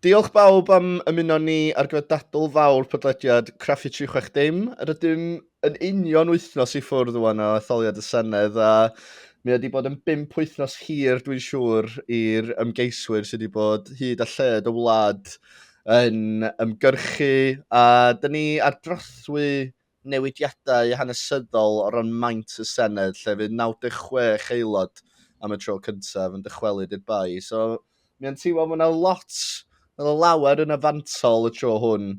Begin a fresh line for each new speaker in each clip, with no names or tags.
Diolch bawb am ymuno ni ar gyfer dadl fawr podlediad Craffu 360. Rydym yn union wythnos i ffwrdd o'n o etholiad y Senedd a mi wedi bod yn bimp wythnos hir dwi'n siŵr i'r ymgeiswyr sydd wedi bod hyd a lled y wlad yn ymgyrchu a dyn ni ar drothwy newidiadau hanesyddol o ran maint y Senedd lle fydd 96 aelod am y tro cyntaf yn dychwelyd i'r Bae. So mi o'n teimlo bod yna lot, oedd y lawer yn y fantol y tro hwn,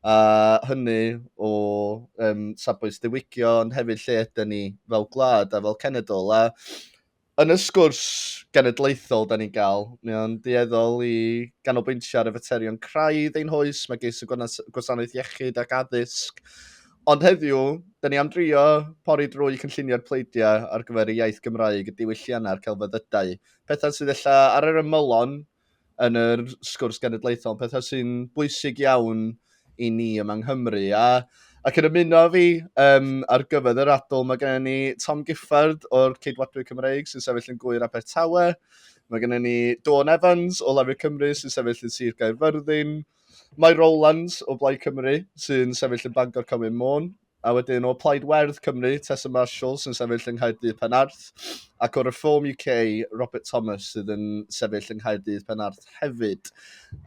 a hynny o um, safbwynt diwygio ond hefyd lle ydy ni fel gwlad a fel cenedl. A yn y sgwrs genedlaethol da ni'n gael, mae o'n dueddol i ganolbwyntio ar y faterion craidd ein hoes, mae geis y gwasanaeth iechyd ac addysg. Ond heddiw, da ni am drio pori drwy cynllunio'r pleidiau ar gyfer y iaith Gymraeg, y diwylliannau a'r celfyddydau, pethau sydd ella ar yr ymylon yn yr sgwrs genedlaethol, yn pethau sy'n bwysig iawn i ni yma yng Nghymru. A, ac yn ymuno fi um, ar gyfer yr adl, mae gennym ni Tom Giffard o'r Ceidwadwyr Cymreig sy'n sefyll yn gwyr Abertawe. Mae gennym ni Dawn Evans o Lafur Cymru sy'n sefyll yn Sir Gaerfyrddin. Mae Rowlands o Blaid Cymru sy'n sefyll yn Bangor Cymru Môn. A wedyn o Plaid Werdd Cymru, Tessa Marshall sy'n sefyll yng Nghaerdydd Penarth, ac o Reform UK, Robert Thomas sydd yn sefyll yng Nghaerdydd Penarth hefyd.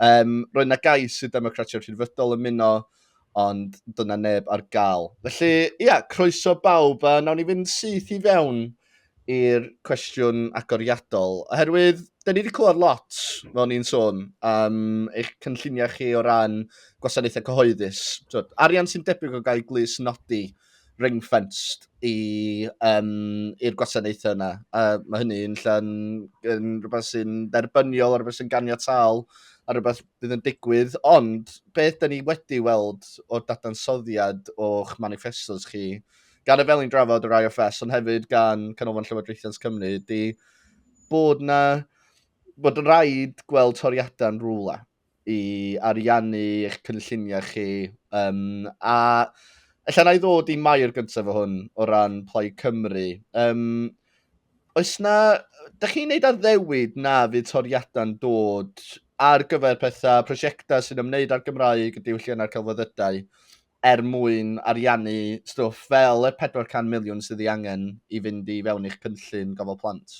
Um, roedd na gais i Democratiaid Rhydfydol ymuno, ond dyna neb ar gael. Felly, ia, croeso bawb, a nawn ni fynd syth i fewn i'r cwestiwn agoriadol, oherwydd da ni wedi clywed lot, fel ni'n sôn, am eich cynlluniau chi o ran gwasanaethau cyhoeddus. So, arian sy'n debyg o gael glus nodi ring fenced i'r um, gwasanaethau yna. A mae hynny'n llan yn rhywbeth sy'n derbyniol, rhywbeth sy'n ganiataol, a rhywbeth bydd yn digwydd. Ond beth da ni wedi weld o'r dadansoddiad o'ch manifestos chi gan y fel ni'n drafod yr IFS, ond hefyd gan Canolfan Llywodraethiant Cymru, di bod na bod yn rhaid gweld toriadau yn rhywle i ariannu eich cynlluniau chi. Um, a efallai na i ddod i mai'r gyntaf o hwn o ran Plaid Cymru. Um, oes na, da chi'n neud addewid na fydd toriadau'n dod ar gyfer pethau, prosiectau sy'n ymwneud â'r Gymraeg, y diwylliannau'r celfyddydau, er mwyn ariannu stwff fel y 400 miliwn sydd ei angen i fynd i fewn i'ch cynllun gofal plant.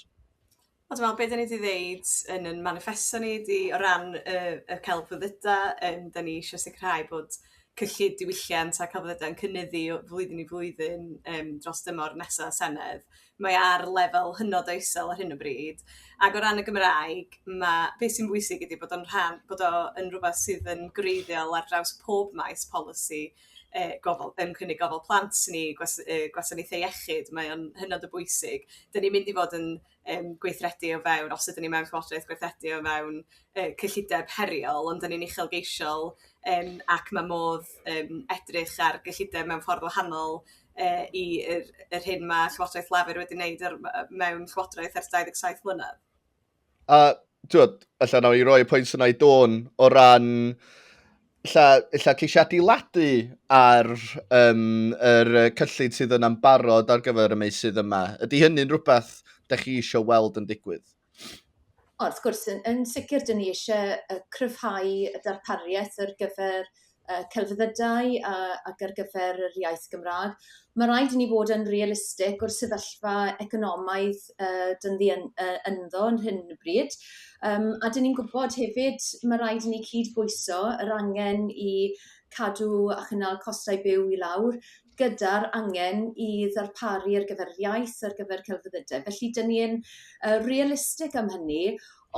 A dwi'n meddwl be 'da ni 'di ddeud yn yn maniffesto ni ydi o ran y y celfyddyda yym 'da ni isio sicrhau bod cyllid diwylliant a celfyddyda yn cynyddu o flwyddyn i flwyddyn yym dros dymor nesa' Senedd. mae ar lefel hynod o isel ar hyn o bryd ac o ran y Gymraeg mae... beth sy'n bwysig ydy bod o'n rhan... bod o yn rhywbeth sydd yn gwreiddiol ar draws pob maes polisi e, gofal, yn cynnig gofal plant ni, gwas, e, gwasanaethau iechyd, mae o'n hynod o bwysig. Dyna ni'n mynd i fod yn um, gweithredu o fewn, os ydyn ni mewn llywodraeth, gweithredu o fewn uh, cyllideb heriol, ond dyna ni'n uchelgeisiol um, ac mae modd um, edrych ar gyllideb mewn ffordd wahanol yy i yr yr hyn ma' Llywodraeth Lafur wedi wneud yr yy mewn Llywodraeth ers 27 mlynedd. A t'wod, ella nawn ni roi y pwynt yna i Dawn o ran ella ella ceisio adeiladu ar um, yr uh, cyllid sydd yna'n barod ar gyfer y meysydd yma. Ydy hynny'n rhywbeth da chi eisiau weld yn digwydd? O wrth gwrs yn yn sicir 'dyn ni isie yy cryfhau y darpariaeth ar gyfer yy celfyddydau a ac ar gyfer yr iaith Gymra'g. Ma' raid i ni fod yn realistig o'r sefyllfa economaidd yy 'dyn ni yn yy ynddo yn hyn o bryd yym a 'dyn ni'n gwbod hefyd ma' raid i ni cyd-bwyso yr angen i cadw a chynnal costau byw i lawr gyda'r angen i ddarparu ar gyfer yr iaith ar gyfer celfyddydau felly 'dyn ni yn yy realistig am hynny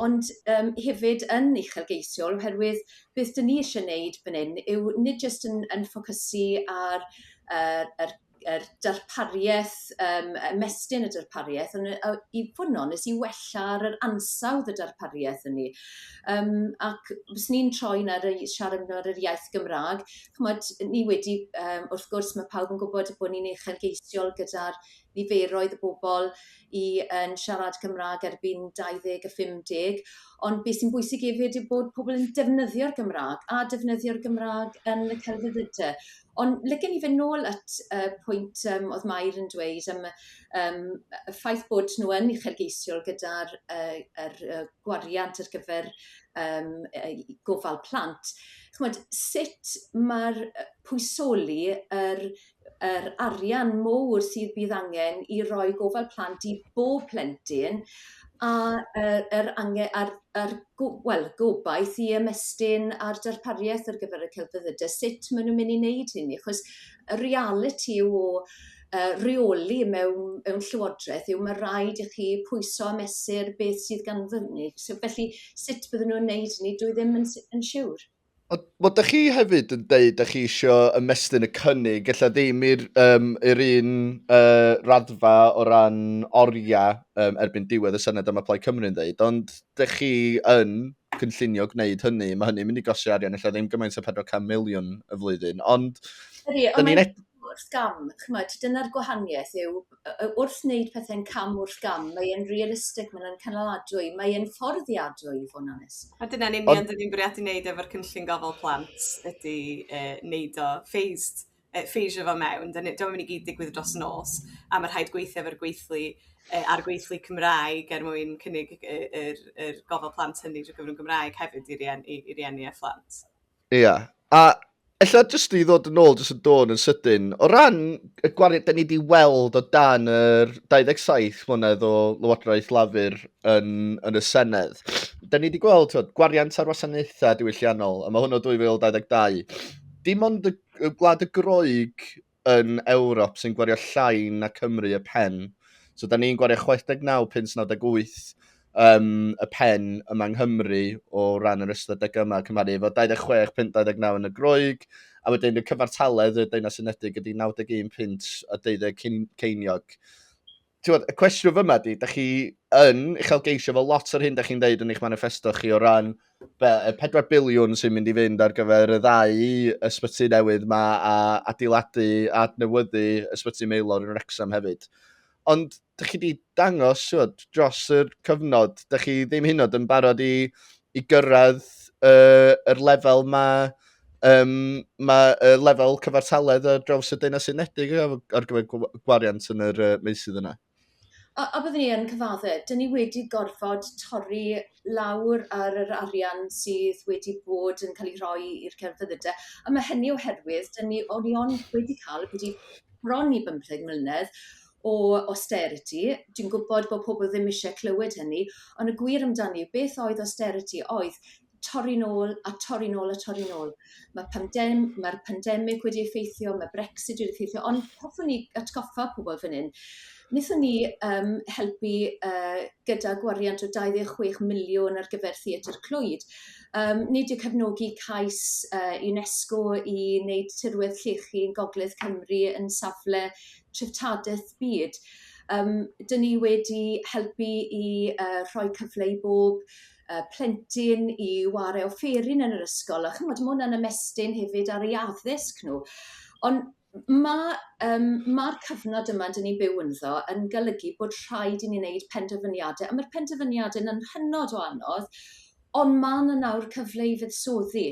ond yym hefyd yn uchelgeisiol oherwydd beth 'dyn ni isie neud fan 'yn yw nid jyst yn yn ffocysu ar yy yr yr darparieth yym ymestyn y darparieth on' yy o- i fod yn onest i wella ar yr ansawdd y darparieth hynny yym ac fyswn i'n troi 'na rei- siarad amdan yr iaith Gymra'g ch'mod, ni wedi yym wrth gwrs ma' pawb yn gwbod bo' ni'n uchelgeisiol gyda'r niferoedd y bobol i yn siarad Cymra'g erbyn dau ddeg a phum deg ond be' sy'n bwysig efyd yw bod pobol yn defnyddio'r Gymra'g a defnyddio'r Gymra'g yn y celfyddyde. Ond licen i fyn' nôl at y pwynt yym o'dd Mair yn dweud am y yym y ffaith bod nhw yn uchelgeisiol gyda'r yy yr yy gwariant ar gyfer um, gofal plant, chymod, sut mae'r pwysoli yr, yr arian mowr sydd bydd angen i roi gofal plant i bob plentyn a yr, yr angen, a'r, a'r go, well, gobaith i ymestyn a'r darpariaeth ar gyfer y celfyddydau, sut maen nhw'n mynd i wneud hynny, achos y reality o uh, reoli mewn, mewn llywodraeth yw mae rhaid i chi pwyso a mesur beth sydd gan fyny. So, felly, sut bydden nhw'n neud ni, dwi ddim yn, yn siŵr. Wel, da chi hefyd yn deud da chi eisiau ymestyn y cynnig, ella ddim i'r um, er un uh, raddfa o ran oriau um, erbyn diwedd y Senedd am y Plaid Cymru'n ddeud, ond da chi yn cynllunio gwneud hynny, mae hynny'n mynd i gosi arian, ella ddim gymaint o 400 miliwn y flwyddyn, ond... Ydy, ond wrth gam, ch'mod, dyna'r gwahanieth yw yy yy wrth wneud pethe'n cam wrth gam, mae e'n realistig, mae e'n cynaladwy, mae e'n fforddiadwy i fod yn onest. A dyna'n union Ond... dyn ni'n bwriadu wneud efo'r cynllun gofal plant ydy e, wneud o phased, e, phasio fo mewn, dyn ni, dyma'n mynd i gyd digwydd dros nos, a mae rhaid gweithio efo'r gweithlu e, a'r gweithlu Cymraeg er mwyn cynnig yr, yr, yr gofal plant hynny drwy gyfrwng Gymraeg hefyd i rieni, i rieni a phlant. Ia. A ella jyst i ddod yn ôl, jyst yn dod yn sydyn, o ran y gwariant da ni wedi weld o dan yr 27 mlynedd o Lywodraeth Lafur yn, yn y Senedd, da ni wedi gweld tywed, gwariant ar wasanaethau diwylliannol, a mae hwnnw 2022. Dim ond y, y gwlad y groeg yn Ewrop sy'n gwario llai na Cymru y pen. So, da ni'n gwario 69 pins 98 um, y pen yma yng Nghymru o ran yr ystadegau yma, cymharu efo 26 pint 29 yn y groeg, a wedyn y cyfartaledd y Deunau Unedig ydy 91 pint a 12 ceiniog. Tywed, y cwestiwn fyma di, da chi yn uchelgeisio fel lot o'r hyn da chi'n dweud yn eich manifesto chi o ran be, y 4 biliwn sy'n mynd i fynd ar gyfer y ddau ysbyty newydd yma a adeiladu a adnewyddu ysbyty Meilor yn Wrexham hefyd. Ond da chi wedi dangos tywed, dros y cyfnod, da chi ddim hynod yn barod i, i gyrraedd uh, yr lefel mae um, mae uh, lefel cyfartaledd ar draws y Deunau Unedig ar gyfer gwariant yn yr uh, meysydd yna. A, a byddwn ni yn cyfadde, dyn ni wedi gorfod torri lawr ar yr arian sydd wedi bod yn cael ei rhoi i'r cerfyddydau. A mae hynny oherwydd, dyn ni, o'n i ond wedi cael, wedi bron i 15 mlynedd, o austerity. Dwi'n gwybod bod pobl ddim eisiau clywed hynny, ond y gwir amdani, beth oedd austerity oedd torri nôl a torri nôl a torri nôl. Mae pandem- mae'r pandemig wedi effeithio, mae Brexit wedi effeithio, ond hoffwn ni atgoffa pobl fan hyn, wnaethon ni um, helpu uh, gyda gwariant o 26 miliwn ar gyfer Theatr Clwyd. Um, nid yw cefnogi cais uh, UNESCO i wneud tirwedd llechi yn Gogledd Cymru yn safle treftadaeth byd. Um, dyn ni wedi helpu i uh, rhoi cyfle i bob y plentyn i ware offeryn yn yr ysgol a chymod mae hwnna'n ymestyn hefyd ar ei addysg nhw. Ond mae um, mae'r cyfnod yma dyn ni'n byw ynddo yn golygu bod rhaid i ni wneud penderfyniadau a mae'r penderfyniadau yn hynod o anodd ond mae yna nawr cyfle i fuddsoddi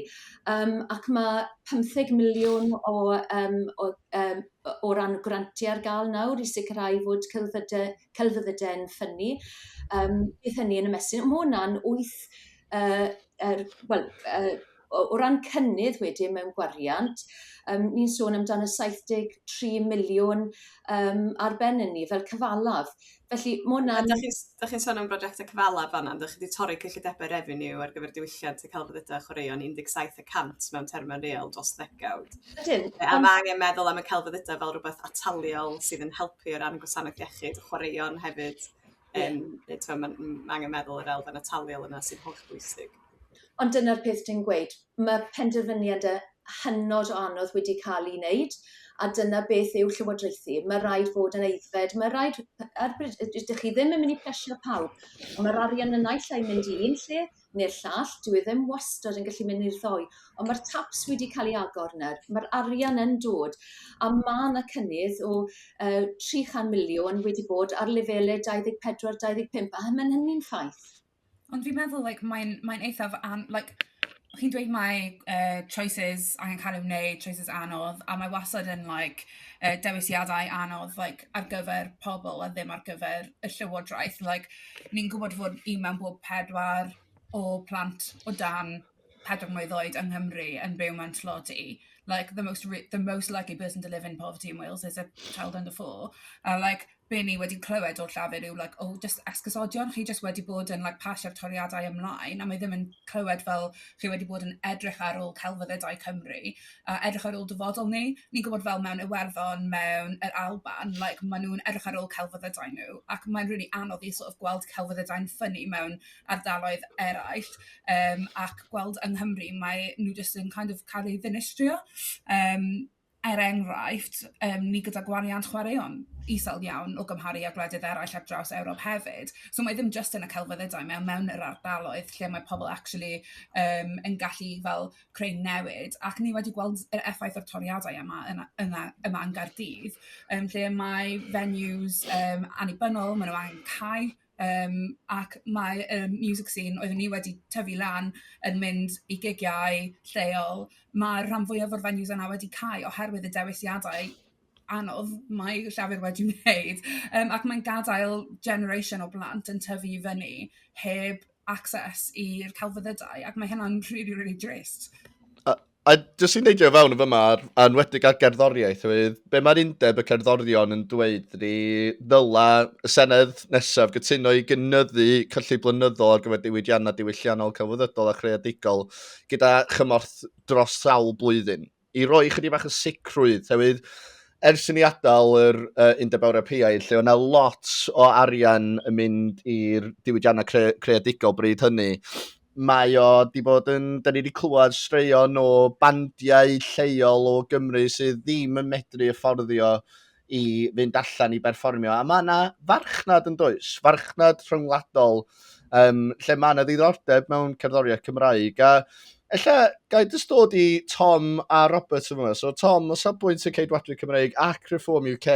um, ac mae 15 miliwn o, um, o, um, o ran grantiau ar gael nawr i sicrhau fod celfyddydau celfyddyde'n ffynnu yym beth hynny yn ymestyn. Ma' wnna'n wyth yy yr wel yy o o ran cynnydd wedyn mewn gwariant yym ni'n sôn amdano 73 miliwn yym ar ben ynni fel cyfalaf. Felly ma' wnna'n... A 'dach chi'n s- 'dach chi'n sôn am brojecte cyfalaf fan 'na on'd 'dach chi 'di torri cyllidebe refeniw ar gyfer diwylliant y celfyddyde a chwaraeon un deg saith y cant mewn terme real dros ddegawd. Ydyn. A mae angen meddwl am y celfyddydau fel rhywbeth ataliol sydd yn helpu o ran gwasanaeth iechyd, chwaraeon hefyd. Um, yeah. Eto, mae ma angen meddwl yr elfen ataliol yna sy'n holl bwysig. Ond dyna'r peth dwi'n gweud, mae penderfyniadau hynod o anodd wedi cael ei wneud, a dyna beth yw llywodraethu. Mae rhaid fod yn eiddfed, mae rhaid, ar bryd, ydych chi ddim yn mynd i plesio pawb, ond mae'r arian yn naill ai mynd i un lle, ne'r llall dyw e ddim wastad yn gallu mynd i'r ddoi ond ma'r taps wedi ca'l 'u agor nawr ma'r arian yn dod a ma' 'na cynnydd o yy tri chan miliwn wedi bod ar lefele dau ddeg pedwar dau ddeg pump a ma' hynny'n ffaith. Ond fi'n meddwl like mae'n mae'n eithaf an- like chi'n dweud mae yy choices angen ca'l i'w wneud choices anodd a mae wastad yn like yy dewisiadau anodd like ar gyfer pobl a ddim ar gyfer y llywodraeth like ni'n gwybod fod un mewn bob pedwar o plant o dan pedwar mlwydd oed yng Nghymru yn byw mewn tlodi like the most re- the most likely person to live in poverty in Wales is a child under four a like be' ni wedi clywed o'r llafur yw like o jyst esgusodion chi jyst wedi bod yn like pasio'r toriadau ymlaen a mae ddim yn clywed fel chi wedi bod yn edrych ar ôl celfyddydau Cymru a edrych ar ôl dyfodol ni. Ni'n gwybod fel mewn Iwerddon, mewn yr Alban, like, ma' nhw'n edrych ar ôl celfyddydau nhw, ac mae'n rili anodd i sort of gweld celfyddydau'n ffynnu mewn ardaloedd eraill, um, ac gweld yng Nghymru, mae nhw jyst yn kind of cael ei ddinistrio. Um, er enghraifft, um, ni gyda gwariant chwaraeon isel iawn o gymharu â gwledydd eraill ar draws Ewrop hefyd. So mae ddim just yn y celfyddydau, mae mewn yr ardaloedd lle mae pobl actually um, yn gallu fel creu newid ac ni wedi gweld yr effaith o'r toriadau yma yn yna yma yn Gaerdydd yym lle mae venues yym annibynnol, maen nhw angen cau yym ac mae y music scene oeddwn ni wedi tyfu lan yn mynd i gigiau lleol, mae'r rhan fwyaf o'r venues yna wedi cau oherwydd y dewisiadau anodd mae Llafur wedi wneud yym ac mae'n gadael generation o blant yn tyfu i fyny heb access i'r celfyddydau, ac mae hynna'n really, really drist. A, a jyst i'n neidio fewn yn fyma, ar, anwedig ar gerddoriaeth, fydd, be mae'r undeb y cerddorion yn dweud ni ddyla y Senedd nesaf gytuno i gynyddu cyllid blynyddol ar gyfer diwydiannau diwylliannol, celfyddydol a chreadigol gyda chymorth dros sawl blwyddyn. i roi chydig bach o sicrwydd, hefyd, ers i ni adael yr uh, Undeb Ewropeaidd, lle o'na lot o arian yn mynd i'r diwydiannau cre creadigol bryd hynny, mae o di bod yn, da ni wedi clywed straeon o bandiau lleol o Gymru sydd ddim yn medru fforddio i fynd allan i berfformio. A mae yna farchnad yn does, farchnad rhyngwladol, um, lle mae yna ddiddordeb mewn cerddoriaeth Cymraeg. A ella gael dys dod i Tom a Robert yn fawr. So Tom, o safbwynt y Ceidwadwy Cymraeg ac Reform UK,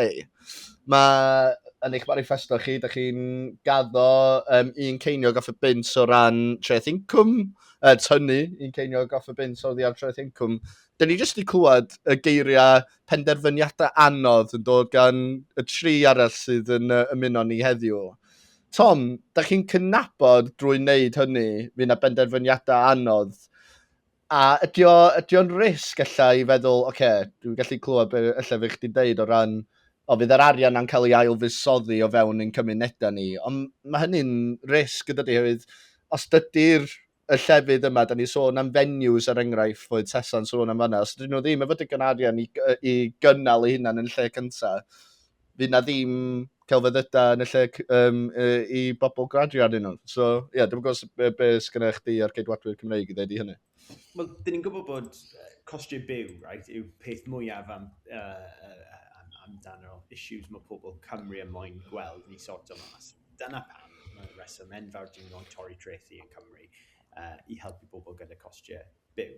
mae yn eich manifesto chi, da chi'n gaddo um, un ceiniog off y bint o ran treth incwm, uh, tynnu un ceiniog off y bint o ddiar treth incwm. Dyna ni jyst wedi clywed y geiriau penderfyniadau anodd yn dod gan y tri arall sydd yn uh, ymuno ni heddiw. Tom, da chi'n cynabod drwy wneud hynny, fi na benderfyniadau anodd. A ydy o'n risg allai i feddwl, oce, okay, dwi'n gallu clywed beth allai fi chdi'n deud o ran o fydd yr arian na'n cael ei ailfusoddi o fewn ein cymunedau ni. Ond mae hynny'n risg yn dydy, hefyd, os dydy'r y llefydd yma, da ni'n sôn am venues ar er enghraifft, foedd Tesa'n sôn am fanna, os ydyn nhw ddim efo digon arian i, i gynnal eu hunan yn y lle cyntaf, fydd na ddim celfyddydau yn y lle um, i bobl gradio arnyn nhw. So, ie, yeah, dwi'n gwybod beth be sgan eich di ar geidwadwyr Cymreig i ddweud i hynny. Wel, dyn ni'n gwybod bod costiau byw, right, yw peth mwyaf am, uh, uh, amdano issues mae pobl Cymru yn moyn gweld ni sort o mas. Dyna pam mae'r rheswm enfawr dyn nhw'n torri trethi yn Cymru uh, i helpu pobl gyda costiau byw.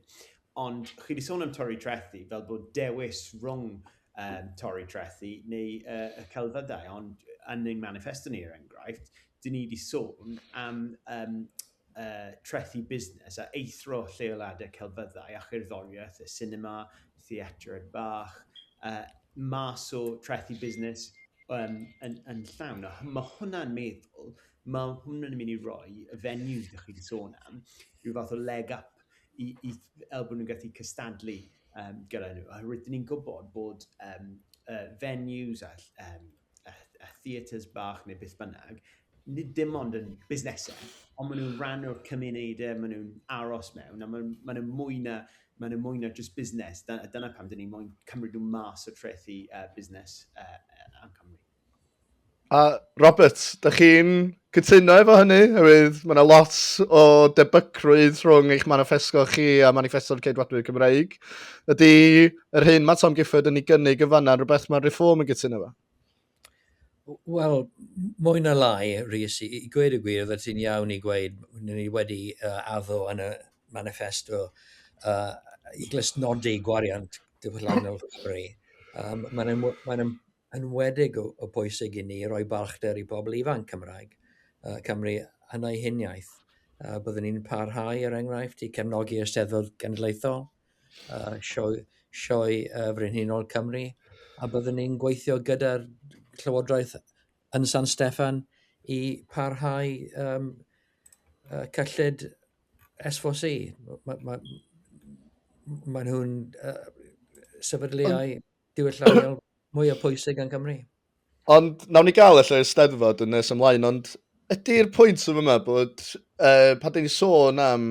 Ond chi wedi sôn am torri trethi fel bod dewis rhwng um, torri trethi neu uh, y celfyddau, ond yn ein manifesto ni er enghraifft, dyn ni wedi sôn am um, uh, trethi busnes a eithro lleoladau celfyddau a chyrddoriaeth, y cinema, theatr bach, uh, mas o trethi busnes um, yn, yn llawn. A mae hwnna'n meddwl, mae hwnna'n mynd i roi y venues ydych chi'n sôn am, rhyw fath o leg up i, i el bod nhw'n gallu cystadlu um, gyda nhw. Oherwydd, dyn ni'n gwybod bod um, uh, venues a um, a, a theatres bach neu beth bynnag, nid dim ond yn busnesau, ond maen nhw'n rhan o'r cymunedau, maen nhw'n aros mewn, a maen, maen nhw'n mwy na, maen nhw'n mwy na just busnes. Da, dyna pam dyn ni moyn cymryd nhw mas o trethi uh, busnes uh, am Cymru. A Robert, da chi'n Cytuno efo hynny, oherwydd mae yna lot o debygrwydd rhwng eich manifesto chi a manifesto'r ceidwadwyr Cymreig. Ydy yr hyn mae Tom Gifford yn ei gynnig yn fanna rhywbeth mae'r reform yn gytuno efo? Wel, mwy na lai, Rhys, i, i gweud y gwir, oedd ti'n iawn i gweud, ni wedi uh, addo yn y manifesto uh, i glustnodi gwariant diwylliannol Cymru. Um, Mae'n mae enwedig o o bwysig i ni roi balchder i bobl ifanc Cymraeg yy Cymru yn eu huniaith. Yy byddwn ni'n parhau er enghraifft i cefnogi Eisteddfod Genedlaethol yy sioe sioe yy Frenhinol Cymru a byddwn ni'n gweithio gyda'r Llywodraeth yn San Steffan i parhau yym yy cyllid SVC. Mae ma' m- m- maen nhw'n yy sefydliau... Ond diwylliannol mwyaf pwysig yn Cymru. Ond nawn ni gael allan y steddfod yn nes ymlaen, ond ydy'r pwynt yn yma bod uh, pan dyn ni sôn am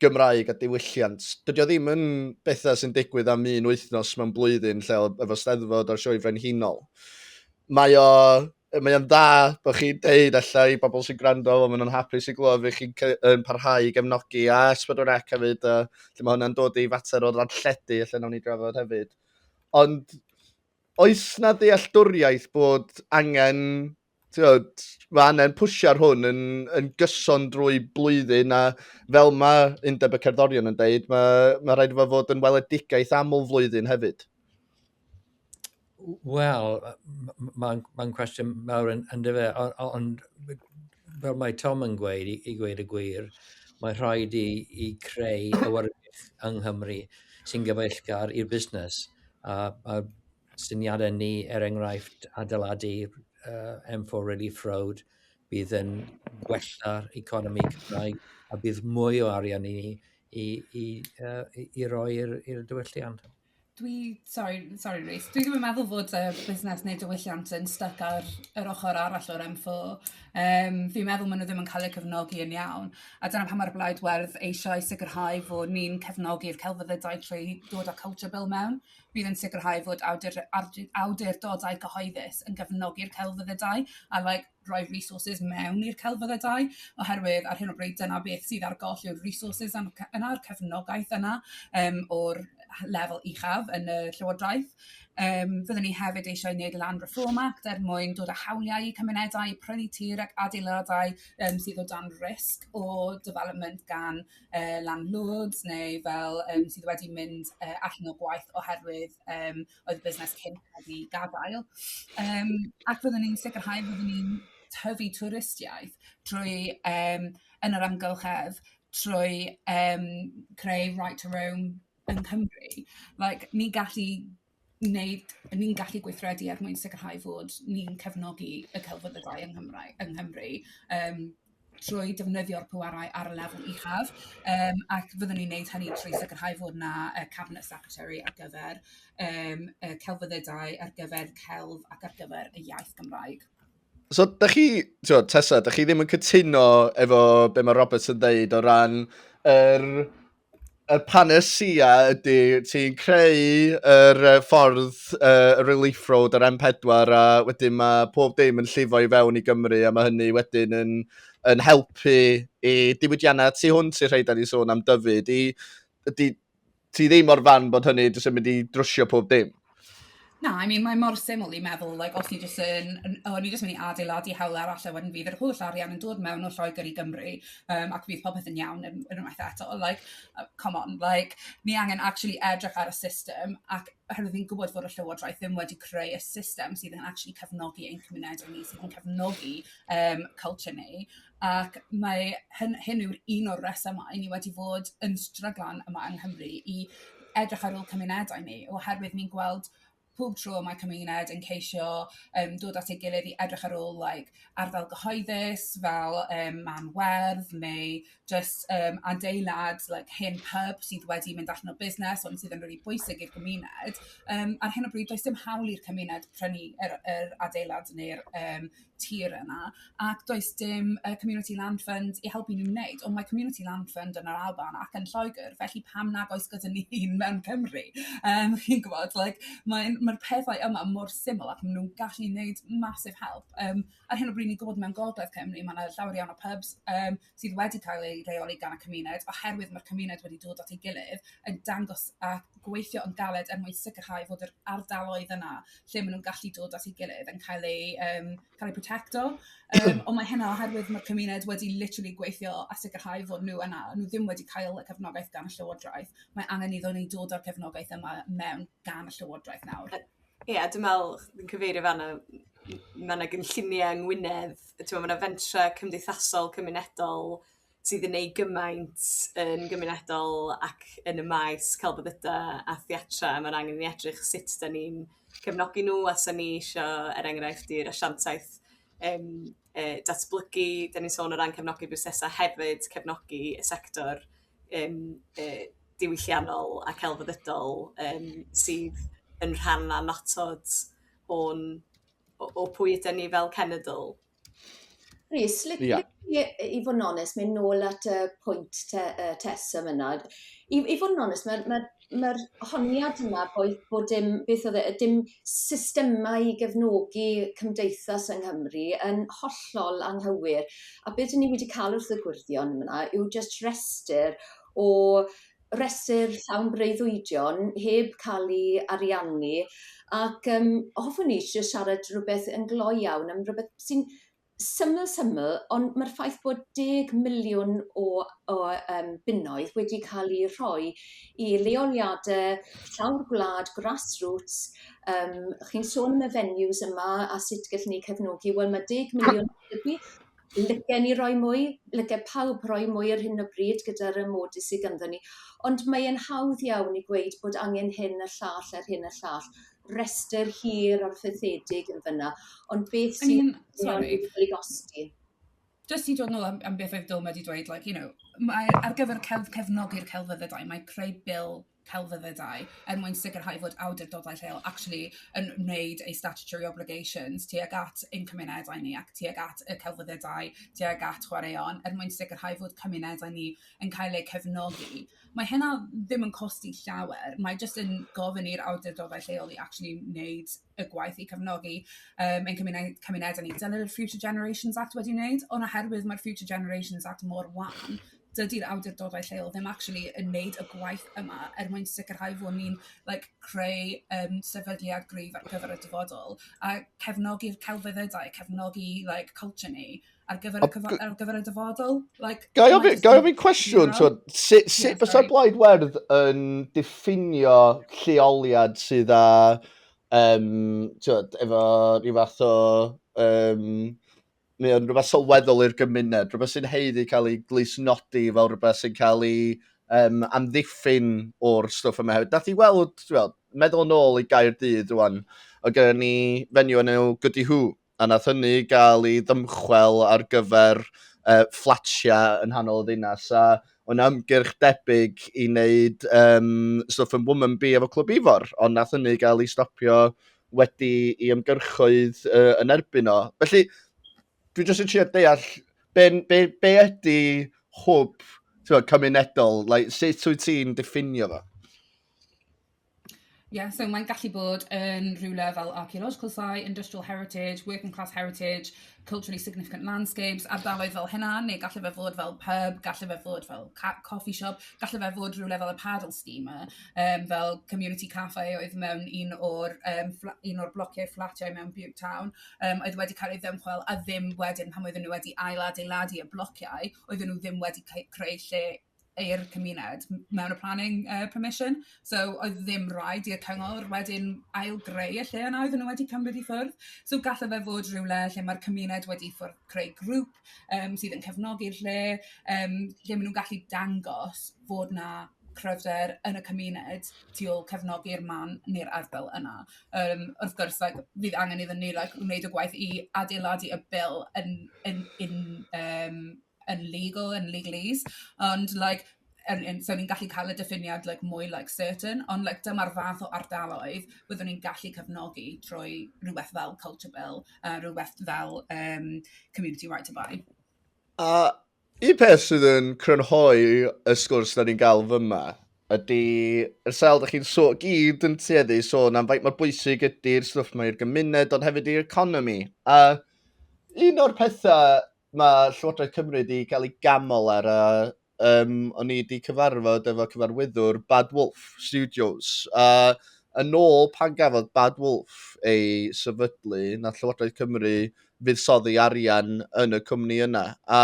Gymraeg a diwylliant, dydy o ddim yn bethau sy'n digwydd am un wythnos mewn blwyddyn lle efo steddfod o'r sioe frenhinol. Mae o mae o'n dda bod chi'n deud allai i bobl sy'n gwrando, ond maen nhw'n hapus i glywed fi chi'n parhau i gefnogi a S4C hefyd, a lle mae hwnna'n dod i fater o ddarlledu, lle nawn ni drafod hefyd. Ond oes na ddealltwriaeth bod angen, tiod, mae angen pwysio hwn yn, yn gyson drwy blwyddyn a fel mae Undeb y Cerddorion yn dweud, mae, mae rhaid efo fod yn weledigaeth aml flwyddyn hefyd. Wel, mae'n ma cwestiwn mawr yn, yn dyfa, ond on, fel mae Tom yn gweud, i, i gweud y gwir, mae rhaid i, i creu awyrgych yng Nghymru sy'n gyfeillgar i'r busnes. A, a syniadau ni, er enghraifft, adeiladu uh, M4 Relief Road, bydd yn gwella'r economi Cymraeg a bydd mwy o arian i ni i, i, uh, i, i roi i'r diwylliant. Dwi sori sori Reece dwi ddim yn meddwl fod y busnes neu diwylliant yn styc ar yr ochor arall o'r Em Foo yym fi'n meddwl ma' nw ddim yn ca'l eu cefnogi yn iawn a dyna pan ma'r Blaid Werdd eisiau sicirhau fo' ni'n cefnogi'r celfyddydau trwy dod â Culture Bill mewn bydd yn sicirhau fod awdur- awdu- awdurdodau cyhoeddus yn gefnogi'r celfyddydau a like rhoi'r resources mewn i'r celfyddau dau, oherwydd ar hyn o bryd dyna beth sydd ar goll yw'r resources yna'r cefnogaeth yna um, o'r lefel uchaf yn y Llywodraeth. Um, fyddwn ni hefyd eisiau gwneud Land Reform Act er mwyn dod â hawliau i cymunedau, prynu tir ac adeiladau um, sydd o dan risg o development gan uh, landlords neu fel um, sydd wedi mynd uh, allan o gwaith oherwydd um, oedd y busnes cyn cael ei gadael. Um, ac fyddwn ni'n sicrhau fyddwn ni'n tyfu twristiaeth drwy um, yn yr amgylchedd, trwy um, creu right to roam yn Cymru. Like, ni'n gallu wneud, ni'n gallu gweithredu er mwyn sicrhau fod ni'n cefnogi y celfyddydau yng Nghymru, yng Nghymru um, trwy defnyddio'r pwerau ar y lefel uchaf, um, ac fyddwn ni'n neud hynny trwy sicrhau fod yna uh, Cabinet Secretary ar gyfer um, uh, celfyddydau, ar gyfer celf ac ar gyfer y iaith Gymraeg. So, da chi, tio, Tessa, da chi ddim yn cytuno efo be mae Roberts yn dweud o ran yr er y panesia ydy ti'n creu yr uh, ffordd uh, relief road ar M4 a wedyn mae pob dim yn llifo i fewn i Gymru a mae hynny wedyn yn, yn helpu i diwydiannau tu hwnt i'r rhai da ni sôn am dyfyd. I, ydy ti ddim o'r fan bod hynny jyst yn mynd i drwsio pob dim? Na I mean mae mor syml i meddwl like os ni jyst yn yn o ni jyst myn' i adeiladu hawlie arall a wedyn bydd yr holl arian yn dod mewn o Lloeger i Gymru yym ac bydd popeth yn iawn yym unwaith eto like yy come on like ni angen actually edrych ar y system ac oherwydd fi'n gwbod fod y Llywodraeth ddim wedi creu y system sydd yn actually cefnogi ein cymunede ni sydd yn cefnogi yym culture ni ac mae hyn... hyn yw'r un o'r rhesymau ni wedi fod yn stryglan yma yng Nghymru i edrych ar ôl cymunedau ni oherwydd ni'n gweld pob tro mae cymuned yn ceisio yym dod at ei gilydd i edrych ar ôl like ardal gyhoeddus fel yym man werdd neu jyst yym adeilad like hen pub sydd wedi mynd allan o busnes ond sydd yn rili bwysig i'r gymuned yym ar hyn o bryd does dim hawl i'r cymuned prynu yr yr adeilad neu'r yym tir yna ac does dim yy community land fund i helpu n'w neud ond mae community land fund yn yr Alban ac yn Lloegr felly pam nag oes gyda ni un mewn Cymru? Yym chi'n gw'bod like mae'n ma'r pethau yma mor syml ac ma' n'w'n gallu neud massive help yym ar hyn o bryd ni'n gw'bod mewn gogledd Cymru ma' 'na llawer iawn o pubs yym sydd wedi cael ei reoli gan y cymuned oherwydd mae'r cymuned wedi dod at ei gilydd yn dangos a gweithio yn galed er mwyn sicrhau fod yr ardaloedd yna lle maen nhw'n gallu dod at ei gilydd yn cael ei, um, cael ei protecto. Um, ond mae hynna oherwydd mae'r cymuned wedi literally gweithio a sicrhau fod nhw yna. Nhw ddim wedi cael y cefnogaeth gan y llywodraeth. Mae angen iddo ni dod o'r cefnogaeth yma mewn gan y llywodraeth nawr. Ie dwi'n me'wl fi'n cyfeirio fan 'na ma' 'na gynllunie yng Ngwynedd yy t'mo' ma' 'na fentre cymdeithasol cymunedol sydd yn neud gymaint yn gymunedol ac yn y maes celfyddyda a theatra a ma'n angen i ni edrych sut 'dan ni'n cefnogi nw a 'sa ni isio er enghraifft i'r asiantaeth yym yy datblygu 'dan ni'n sôn o ran cefnogi busnesa' hefyd cefnogi y sector yym yy diwylliannol a celfyddydol yym sydd yn rhan annatod o'n o o pwy yden ni fel cenedl. Rhys, li- yeah. li- i fod yn onest, mynd nôl at y pwynt te, uh, Tess am yna. I, I fod yn onest, mae, mae ma'r honiad yma bo' i- bo' dim beth o'dd e yy dim systemau i gefnogi cymdeithas yng Nghymru yn hollol anghywir a be' 'dyn ni wedi ca'l wrth y gwyrddion fyn 'na yw jyst rhestyr o restyr llawn breuddwydion heb ca'l 'u ariannu ac yym hoffwn i jys siarad rwbeth yn gloi iawn am rwbeth sy'n syml syml ond mae'r ffaith bod deg miliwn o o yym bunnoedd wedi ca'l 'u rhoi i leoliade llawr gwlad grassroots yym chi'n sôn am y venues yma a sut gellwn ni cefnogi wel ma' deg miliwn helpu lygen ni roi mwy lyge pawb roi mwy ar hyn o bryd gyda'r yym modys sy ganddon ni ond mae e'n hawdd iawn i gweud bod angen hyn a llall a'r hyn a llall rester hir a rhythedig yn fynna ond beth sy'n... I mean sori. ...wedi gostio? Jyst i dod nôl am am beth oedd Dwynne wedi dweud like you know mae ar gyfer celf- cefnogi'r celfyddydau mae creu bil celfyddydau er mwyn sicrhau fod awdurdodau lleol actually yn wneud eu statutory obligations tuag at ein cymunedau ni ac tuag at y celfyddydau tuag at chwaraeon er mwyn sicrhau fod cymunedau ni yn cael eu cefnogi Mae hynna ddim yn costi llawer, mae jyst yn gofyn i'r awdurdodau lleol i actually wneud y gwaith i cefnogi um, ein cymuned, cymunedau ni. Dyna yr Future Generations Act wedi wneud, ond oherwydd mae'r Future Generations Act mor wan, dydy'r awdurdodau lleol ddim actually yn wneud y gwaith yma er mwyn sicrhau fod ni'n like, creu um, sefydliad gryf ar gyfer y dyfodol a cefnogi'r celfyddydau, cefnogi like, culture ni. ar gyfer, y cyfo- ar gyfer y dyfodol. Like, Gai ofyn cwestiwn, twyd, sut si, yes, bysa Blaid Werdd yn diffinio lleoliad sydd â, um, twyd, efo rhyw fath o, um, mae o'n rhywbeth sylweddol i'r gymuned, rhywbeth sy'n heiddi cael ei glusnodi fel rhywbeth sy'n cael ei um, amddiffyn o'r stwff yma hefyd. Nath i weld, twyd, meddwl yn ôl i gair dydd rwan, o gyda ni fenyw yn enw Goody Who, a nath hynny gael ei ddymchwel ar gyfer uh, fflatiau yn hanol y ddinas, a o'n ymgyrch debyg i wneud um, stwff yn Woman Bee efo Clwb Ifor, ond nath hynny gael ei stopio wedi i ymgyrchoedd uh, yn erbyn o. Felly, dwi jyst yn trio deall be, be, be ydy hwb cymunedol, like, sut wyt ti'n diffinio fo? Yeah, so mae'n gallu bod yn rhywle fel archaeological site, industrial heritage, working class heritage, culturally significant landscapes, ardaloedd fel hynna, neu gallu fe fod fel pub, gallu fe fod fel coffee shop, gallu fe fod rhywle fel y paddle steamer, um, fel community cafe oedd mewn un o'r, um, un o'r blociau fflatiau mewn Butte Town, um, oedd wedi cael ei ddymchwel a ddim wedyn pan oedden nhw wedi ail adeiladu y blociau, oedden nhw ddim wedi creu lle i'r cymuned mewn y planning yy permission. So oedd ddim rhaid i'r cyngor wedyn ail-greu y lle yna oedden nhw wedi cymryd i ffwrdd. So gallai fe fod rhywle lle mae'r cymuned wedi ffwrdd creu grŵp um, sydd yn cefnogi'r lle, um, lle maen nhw'n gallu dangos fod na cryfder yn y cymuned tu ôl cefnogi'r man neu'r ardal yna. Um, wrth gwrs, like, fydd angen iddyn ni like, wneud y gwaith i adeiladu y bil yn, yn, yn, um, yn legal yn legalese ond like yn yn so ni'n gallu cael y diffiniad like mwy like certain ond like dyma'r fath o ardaloedd byddwn ni'n gallu cefnogi trwy rhywbeth fel culture bill a rhywbeth fel um, community right to buy. A un peth sydd yn crynhoi y sgwrs da ni'n gael fyma ydy yr sail da chi'n so, gyd yn tueddu sôn am faint mor bwysig ydy'r stwff mae i'r gymuned ond hefyd i'r economi. A un o'r pethau Mae Llywodraeth Cymru wedi cael ei ganmol ar a um, o'n i wedi cyfarfod efo cyfarwyddwr Bad Wolf Studios. A yn ôl pan gafodd Bad Wolf ei sefydlu, na Llywodraeth Cymru fuddsoddi arian yn y cwmni yna. A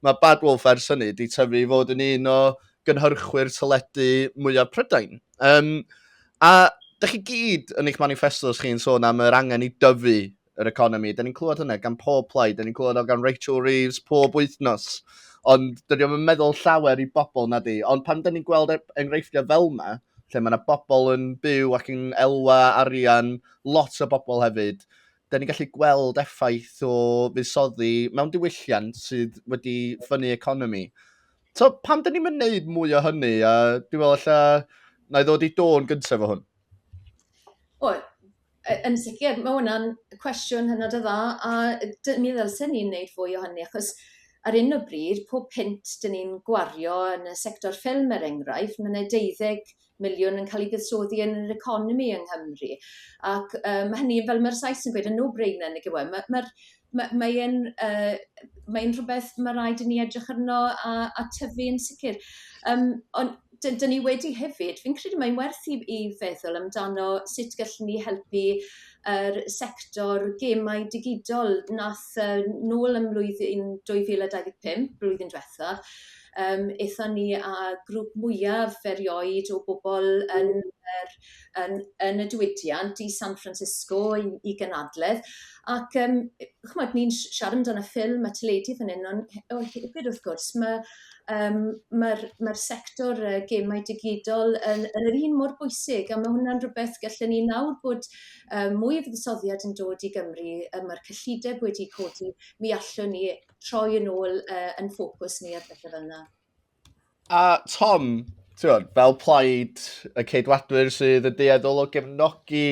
mae Bad Wolf ers hynny wedi tyfu i fod yn un o gynhyrchwyr teledu mwyaf Prydain. Um, a Dych chi gyd yn eich manifestos chi'n sôn am yr angen i dyfu yr economi. Da ni'n clywed hynna gan pob plaid, da ni'n clywed o gan Rachel Reeves pob wythnos. Ond dydy o'n meddwl llawer i bobl na di. Ond pan da ni'n gweld e- enghreifftiau fel yma, lle mae yna bobl yn byw ac yn elwa arian, lot o bobl hefyd, da ni'n gallu gweld effaith o fusoddi mewn diwylliant sydd wedi ffynnu economi. So, pam da ni'n mynd mwy o hynny? A dwi'n meddwl, lle, na i ddod i dôn gyntaf o hwn. O, Y- yn sicir ma' wnna'n cwestiwn hynod o dda a yy d- mi ddylsen ni neud fwy o hynny achos ar 'yn o bryd pob punt 'dyn ni'n gwario yn y sector ffilm er enghraifft ma' 'na deuddeg miliwn yn ca'l 'i buddsoddi yn yr economi yng Nghymru ac yy ma' hynny fel ma'r Sais yn gweud yn no brainer nag yw e ma' ma'r ma' mae e'n yy mae'n rhwbeth ma' raid i ni edrych arno a a tyfu yn sicir yym on' 'dyn 'dyn ni wedi hefyd fi'n credu mae'n werth i i feddwl amdano sut gellwn ni helpu yr sector gemau digidol nath yy nôl ym mlwyddyn dwy fil a dau ddeg pump blwyddyn dwetha yym ethon ni â grŵp mwyaf erioed o bobol yn yr yn yn y diwydiant i San Francisco i i gynadledd ac yym yy ch'mod ni'n s- siarad amdan y ffilm a teledu fan 'yn on' he- o hefyd wrth gwrs ma' yym ma'r ma'r sector yy gemau digidol yn yn yr un mor bwysig a ma' hwnna'n rwbeth gallwn ni nawr bod yym mwy o fuddsoddiad yn dod i Gymru yy ma'r cyllideb wedi codi mi allwn ni troi yn ôl yy 'yn ffocws ni ar bethe fel 'na. A Tom, ti'n fel plaid y ceidwadwyr sydd yn deeddol o gefnogi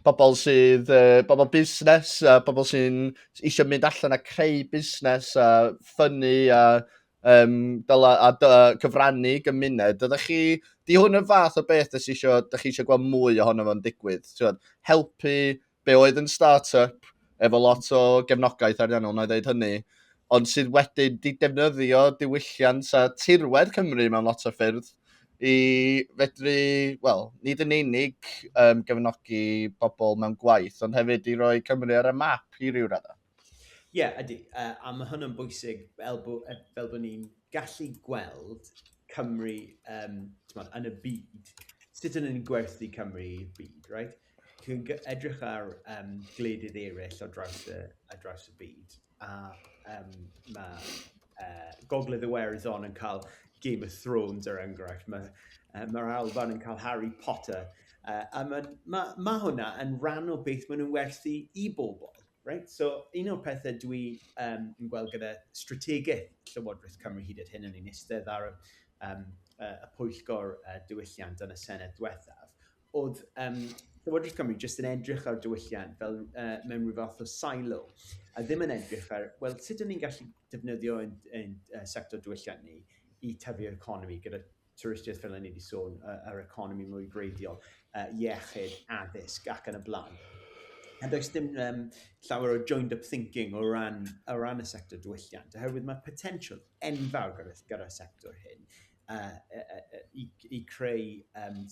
pobl sydd, uh, pobl busnes a pobl sy'n eisiau mynd allan a creu busnes a ffynnu a, um, dyla, a, a, a cyfrannu gymuned. Ydych chi, di hwn yn fath o beth ydych chi eisiau, ydych chi eisiau gweld mwy ohono fo'n digwydd? Ti'n helpu be oedd yn start-up efo lot o gefnogaeth ariannol, na i ddeud hynny, ond sydd wedyn di defnyddio diwylliant a tirwedd Cymru mewn lot o ffyrdd i fedru, wel, nid yn unig um, gefnogi bobl mewn gwaith, ond hefyd i roi Cymru ar y map i ryw raddau. Ie, yeah, ydy. Uh, a mae hynny'n bwysig fel, bo, e, fel bod ni'n gallu gweld Cymru um, tmod, yn y byd. Sut ydyn ni'n gwerthu Cymru i'r byd, right? Dwi'n edrych ar yym gwledydd eraill ar draws y ar draws y byd a yym ma' yy Gogledd Iwerddon yn cael Game of Thrones er enghraifft, ma' yy ma'r Alban yn cael Harry Potter yy a ma' ma' ma' hwnna yn rhan o beth maen nhw'n werthu i bobl. Right? So un o'r pethe dwi yym yn gweld gyda strategaeth Llywodraeth Cymru hyd at hyn, o'n i'n istedd ar yym yy y pwyllgor yy diwylliant yn y Senedd dwethaf, oedd um, Llywodraeth Cymru jyst yn edrych ar diwylliant fel uh, mewn rhyw fath o silo, a ddim yn edrych ar, wel, sut ydym ni'n gallu defnyddio yn, yn uh, sector diwylliant ni i tyfu'r economi gyda twristiaeth fel yna ni wedi sôn, uh, yr economi mwy greiddiol, uh, iechyd, addysg ac yn y blaen. A does dim um, llawer o joined up thinking o ran, o ran y sector diwylliant, oherwydd mae potensial enfawr gyda'r gyda sector hyn. i creu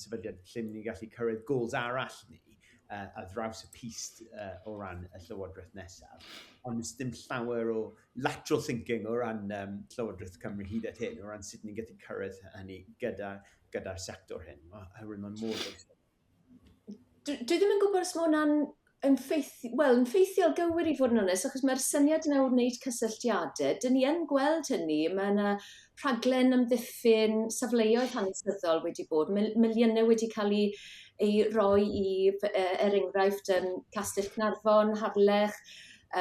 sefydliad lle ni'n gallu cyrraedd goals arall ni ar draws y pist o ran y Llywodraeth nesaf. Ond does dim llawer o lateral thinking o ran Llywodraeth Cymru hyd at hyn, o ran sut ni'n gallu cyrraedd hynny gyda'r sector hyn, oherwydd mae'n mor bwysig. dwi, dwi ddim yn gwybod os mae hwnna'n yn ffeithiol, wel, yn ffeithiol gywir i fod yn onest, achos mae'r syniad yna o wneud cysylltiadau. Dyn ni yn gweld hynny, mae yna rhaglen amddiffyn safleoedd hanesyddol wedi bod, mil miliynau wedi cael ei, ei roi i, e, er enghraifft, um, Castell Cnarfon, Harlech,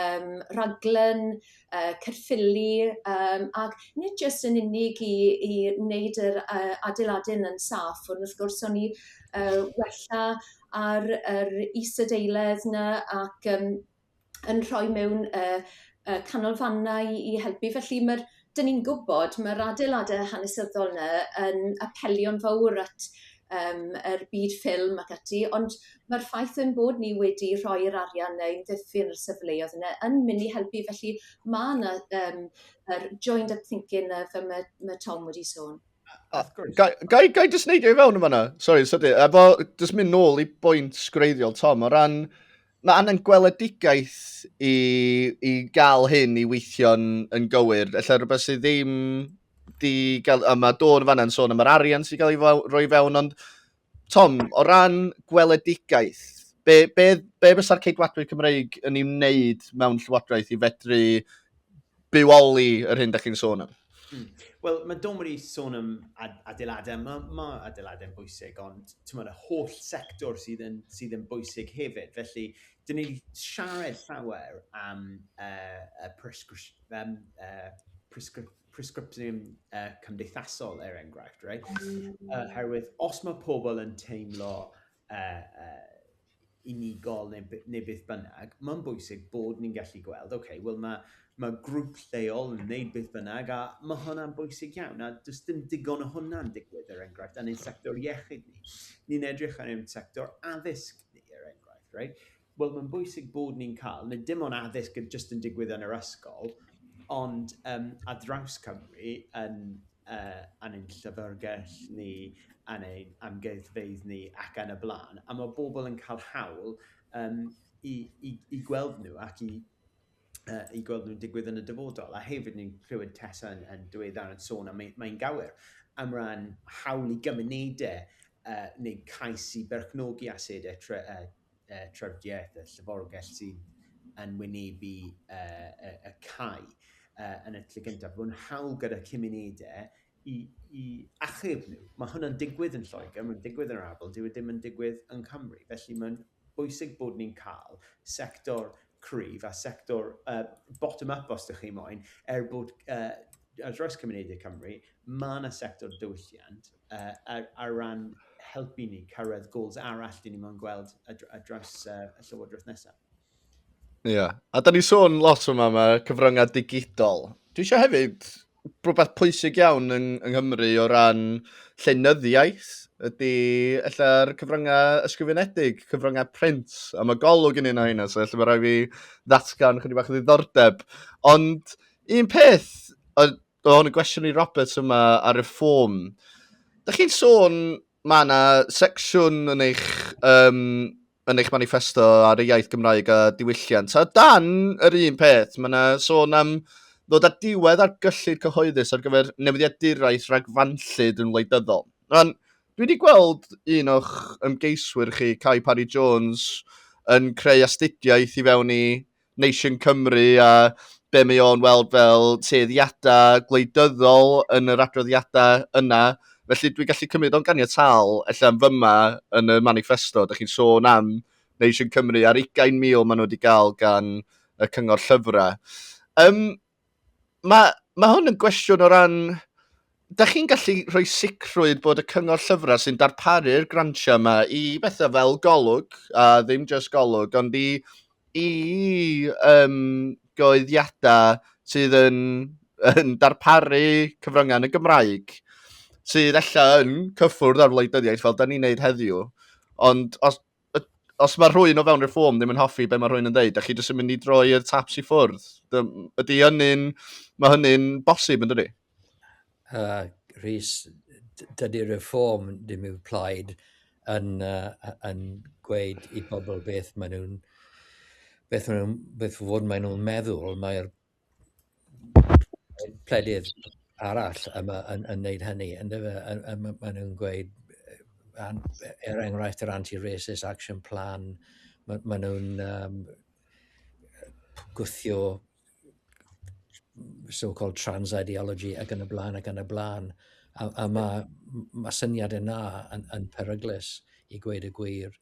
um, rhaglen yy Caerffili yym ac nid jyst yn unig i i wneud yr yy adeiladu'n yn saff ond wrth gwrs o'n i yy wella ar yr isadeiledd 'na ac yym yn rhoi mewn yy yy canolfannau i i helpu felly ma'r 'dyn ni'n gwbod ma'r adeilade hanesyddol 'na yn apelio'n fowr at yym yr byd ffilm ac ati ond ma'r ffaith ein bod ni wedi rhoi'r arian 'ne i ddyfu'n y sefleodd yne yn myn' i helpu felly ma' 'na yym yr joined up thinking 'na fel ma' ma' Tom wedi sôn. Gai, gai, gai jyst neidio i fewn yn fanna? Sorry, sydyn. Efo, jyst mynd nôl i bwynt gwreiddiol Tom, o ran Mae angen gweledigaeth i, i gael hyn i weithio'n yn gywir. Ella rhywbeth sydd ddim di gael... A mae Dawn fanna'n sôn am yr arian sy'n cael ei roi fewn, ond Tom, o ran gweledigaeth, be, be, be fysa'r ceidwadwyr Cymreig yn ei wneud mewn llywodraeth i fedru bywoli yr hyn da chi'n sôn am. Mm. Wel, mae Dom wedi sôn am adeiladau, mae, mae adeiladau yn bwysig, ond tymod, y holl sector sydd yn, sydd yn bwysig hefyd. Felly, dyn ni wedi siarad llawer am uh, y prescription, um, uh, prescription presgripsiwn uh, cymdeithasol er enghraifft, right? Uh, herwydd, os mae pobl yn teimlo unigol neu beth bynnag, mae'n bwysig bod ni'n gallu gweld, ok, wel mae grŵp lleol yn wneud beth bynnag a mae hwnna'n bwysig iawn a does dim digon o hwnna'n digwydd er enghraifft yn ein sector iechyd ni. Ni'n edrych ar ein sector addysg ni er enghraifft, reit? Wel, mae'n bwysig bod ni'n cael, nid dim ond addysg yn jyst yn digwydd yn yr ysgol, ond um, a draws Cymru, yn, uh, yn ein llyfrgell ni, yn ein amgueddfeydd ni ac yn y blaen. A mae bobl yn cael hawl um, i, i, i gweld nhw ac i, uh, i gweld nhw'n digwydd yn y dyfodol. A hefyd ni'n clywed Tessa yn, yn dweud ar yn sôn, a mae'n mae gywir, am ran hawl i gymunedau uh, neu cais i berchnogi asedau tre, uh, trafdidiaeth, y llyfrgell sydd yn wynebu y cau yn y lle gyntaf, bod yn hawl gyda cymunedau i, i achub nhw. Mae hwnna'n digwydd yn Lloegr, mae'n digwydd yn yr Afel, dyw e ddim yn digwydd yn Cymru. Felly mae'n bwysig bod ni'n cael sector cryf a sector uh, bottom-up os ydych chi moyn, er bod uh, ar draws cymunedau Cymru, mae yna sector diwylliant yy ar ran helpu ni cyrraedd goals arall dyn ni mo'n gweld ar draws uh, y llywodraeth nesaf. Ie, yeah. a da ni sôn lot yma am y cyfryngau digidol. Dwi eisiau hefyd rhywbeth pwysig iawn yng, yng Nghymru o ran llenyddiaeth ydy ella'r cyfryngau ysgrifenedig, cyfryngau print, a mae golwg yn un o hynny, so felly mae rhaid fi ddatgan chydig bach o ddiddordeb. Ond un peth, Oedd hwn yn gwestiwn i Roberts yma ar y ffôn. Dych chi'n sôn, mae yna secsiwn yn eich, um, yn eich manifesto ar y iaith Gymraeg a diwylliant. A dan yr un peth, mae yna sôn am ddod â diwedd ar gyllid cyhoeddus ar gyfer newyddiaduraeth ragfanllyd yn wleidyddol. Rhan, dwi wedi gweld un o'ch ymgeiswyr chi, Cai Parry Jones, yn creu astudiaeth i fewn i Nation Cymru a be mae o'n weld fel tueddiadau gwleidyddol yn yr adroddiadau yna. Felly dwi'n gallu cymryd o'n ganiataol, efallai am fyma yn y manifesto, da chi'n sôn am Nation Cymru a'r 20,000 maen nhw wedi gael gan y cyngor llyfrau. Um, mae, mae hwn yn gwestiwn o ran... Da chi'n gallu rhoi sicrwydd bod y cyngor llyfrau sy'n darparu'r grantiau yma i bethau fel golwg, a ddim just golwg, ond i, i um, goeddiadau sydd yn, yn darparu cyfryngau yn y Gymraeg, sydd allan yn cyffwrdd ar wleidyddiaeth fel da ni'n neud heddiw. Ond os, os mae rhwy'n o fewn reform ddim yn hoffi be mae rhwy'n yn dweud, a chi jyst yn mynd i droi'r taps i ffwrdd, ydy hynny'n, mae hynny'n bosib yn dydy? Uh, Rhys, dydy reform ddim i'w plaid yn, uh, yn gweud i bobl beth maen nhw'n beth, maen nhw, beth fod maen nhw'n meddwl, mae'r pledydd arall yn, yn, yn wneud hynny, yn dyfe? Yn, yn, maen nhw'n gweud, er enghraifft, yr anti-racist action plan, maen ma nhw'n um, gwthio so-called trans ideology ac yn y blaen ac yn y blaen. A, a mae ma syniad yna yn, yn peryglus i gweud y gwir.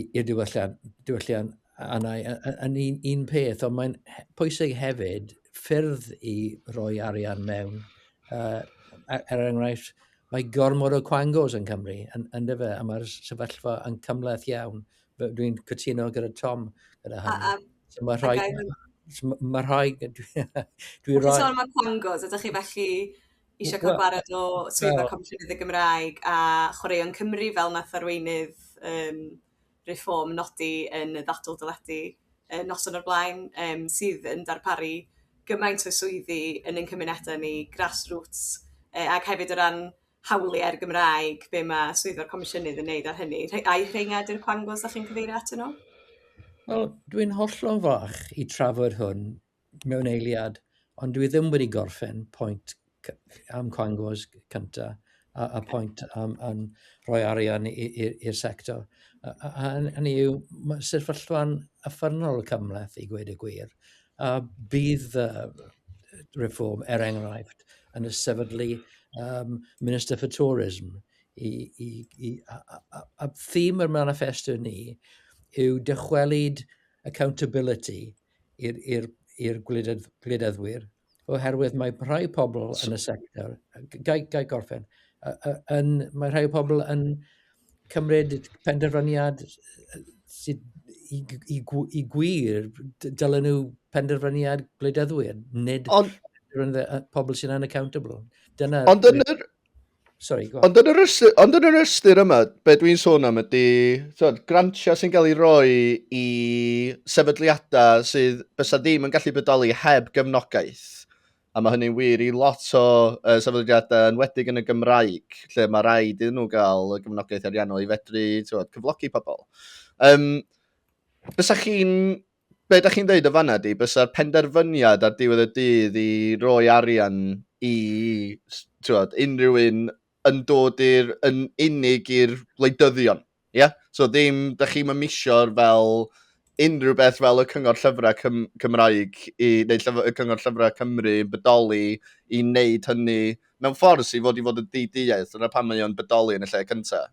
i'r diwylliant, diwylliant anna yn un, un peth, ond mae'n pwysig hefyd ffyrdd i roi arian mewn. Uh, er, er enghraifft, mae gormod o quangos yn Cymru, yn, yn dyfa, a mae'r sefyllfa yn cymleth iawn. Dwi'n cytuno gyda Tom gyda hynny. A, a, so mae rhai... Mae rhai... Dwi'n rhoi... Dwi'n sôn am y quangos, ydych chi felly isio ca'l gwared o swyddfa Comisiynydd y Gymraeg a Chwaraeon Cymru fel nath arweinydd yym Reform nodi yn y ddadl deledu yy noson o'r blaen yym sydd yn darparu gymaint o swyddi yn ein cymuneda ni grassroots yy ag hefyd o ran hawlie'r Gymraeg be' ma' swyddfa'r Comisiynydd yn neud ar hynny rhe- ai rheina ydi'r cwangos 'dach chi'n cyfeirio atyn nhw? Wel dwi'n hollol fach i trafod hwn mewn eiliad, ond dwi ddim wedi gorffen pwynt am cwangos cynta a, a pwynt am, am rhoi arian i'r sector. A, a, a hynny yw, mae sefyllfa'n yffernol cymleth i gweud y gwir. A bydd uh, reform, er enghraifft, yn y sefydlu um, Minister for Tourism. I, i, i, a, a, a, a thîm yr manifesto ni yw dychwelyd accountability i'r i'r i'r gwleidyddd- gwleidyddwyr oherwydd mae rhai pobl yn y sector, g- gai gai gorffen, yy yy yn mae rhai pobl yn cymryd penderfyniad yy sydd i g- i gw- i gwir d- dylen nhw penderfyniad gwleidyddwyr, nid Ond- yy pobl sy'n unaccountable. Dyna Ond yn yr Sorry, go on. Ond yn yr ystyr, ond yn yr ystyr yma, be dwi'n sôn am ydy, tywed, grantiau sy'n cael ei roi i sefydliadau sydd bysa ddim yn gallu bodoli heb gefnogaeth. A mae hynny'n wir i lot o uh, sefydliadau yn wedig yn y Gymraeg, lle mae rhaid iddyn nhw gael y gefnogaeth ariannol i fedru tywed, cyflogi pobl. Um, bysa chi'n be da chi'n dweud o fanna di, bysa'r penderfyniad ar diwedd y dydd i roi arian i tiwod, unrhyw un yn dod i'r, yn unig i'r wleidyddion. Ie? Yeah? So ddim, da chi'n mymisio'r fel unrhyw beth fel y Cyngor Llyfrau Cym Cymraeg i, neu llyf y Cyngor Llyfrau Cymru yn bodoli i wneud hynny mewn ffordd sy'n fod i fod yn di-deall. Dyna pan mae o'n bodoli yn y lle cyntaf.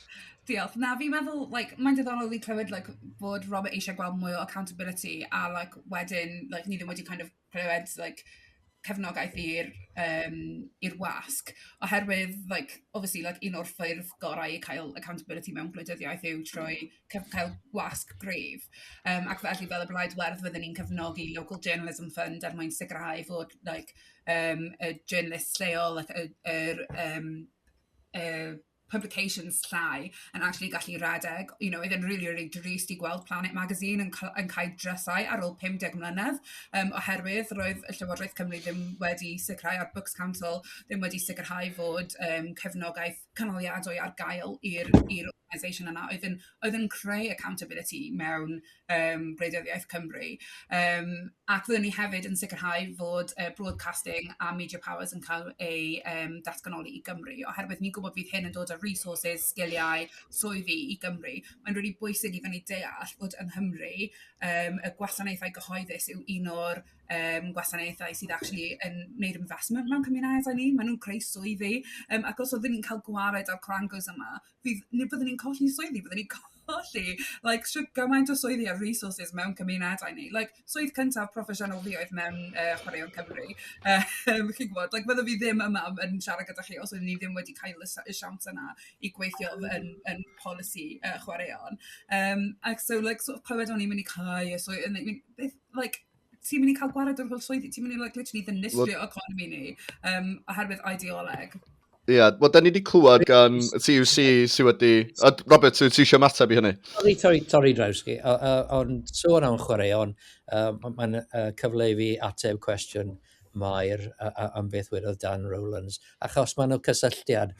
Diolch. Na fi'n meddwl like mae'n diddorol i clywed like bod Robert eisiau gweld mwy o accountability a like wedyn like ni ddim wedi kind of clywed like cefnogaeth i'r um, i'r wasg oherwydd like obviously like un o'r ffyrdd gorau i cael accountability mewn gwleidyddiaeth yw trwy cael wasg gref um, ac felly fel y blaid werdd fydden ni'n cefnogi local journalism fund er mwyn sicrhau fod like um, y journalist lleol like, y, y, y, y, y publications llai yn actually gallu rhedeg. You know, oedd e'n rili, rili drist i gweld Planet Magazine yn ca- yn cael drysau ar ôl 50 mlynedd, um, oherwydd roedd y Llywodraeth Cymru ddim wedi sicrhau, a'r Books Council ddim wedi sicrhau fod um, cefnogaeth canoliadwy ar gael i'r i'r organisation yna oedd yn oedd yn creu accountability mewn yym Radiant Iaith Cymru, yym, ac fyddwn ni hefyd yn sicrhau fod yy Broadcasting a Media Powers yn cael eu yym datganoli i Gymru, oherwydd ni'n gwybod bydd hyn yn dod â resources, sgiliau, swyddi i Gymru. Mae'n rili bwysig i fyny deall bod yng Nghymru yym y gwasanaethau gyhoeddus yw un o'r yym gwasanaethau sydd actually yn wneud investment mewn cymunedau ni, maen nhw'n creu swyddi, yym ac os oeddwn ni'n cael gwared â'r cwrangles yma, fydd, neu byddwn ni'n colli swyddi, byddwn ni'n colli, like, sio gymaint o swyddi a resources mewn cymunedau ni. Like, swydd cyntaf proffesiynol fi oedd mewn uh, chwaraeon Cymru. Um, chi'n gwybod, like, byddwn fi ddim yma yn siarad gyda chi os ydyn ni ddim wedi cael y siawns yna i gweithio yn, yn polisi uh, chwaraeon. Um, ac so, like, sort of, clywed o'n i'n mynd i cael y swyddi, like, ti'n mynd i cael gwared o'r holl swyddi, ti'n mynd i like, literally ddinistrio well, economi ni um, oherwydd ideoleg. Ie, yeah, wel, da ni wedi clywed gan CUC sydd wedi... A Robert, ti eisiau mateb i hynny? Sorry, sorry, sorry Drewski, ond sôn am chwaraeon, uh, mae'n uh, cyfle i fi ateb cwestiwn uh, Mair a a am beth wedodd Dan Rowlands, achos mae 'na cysylltiad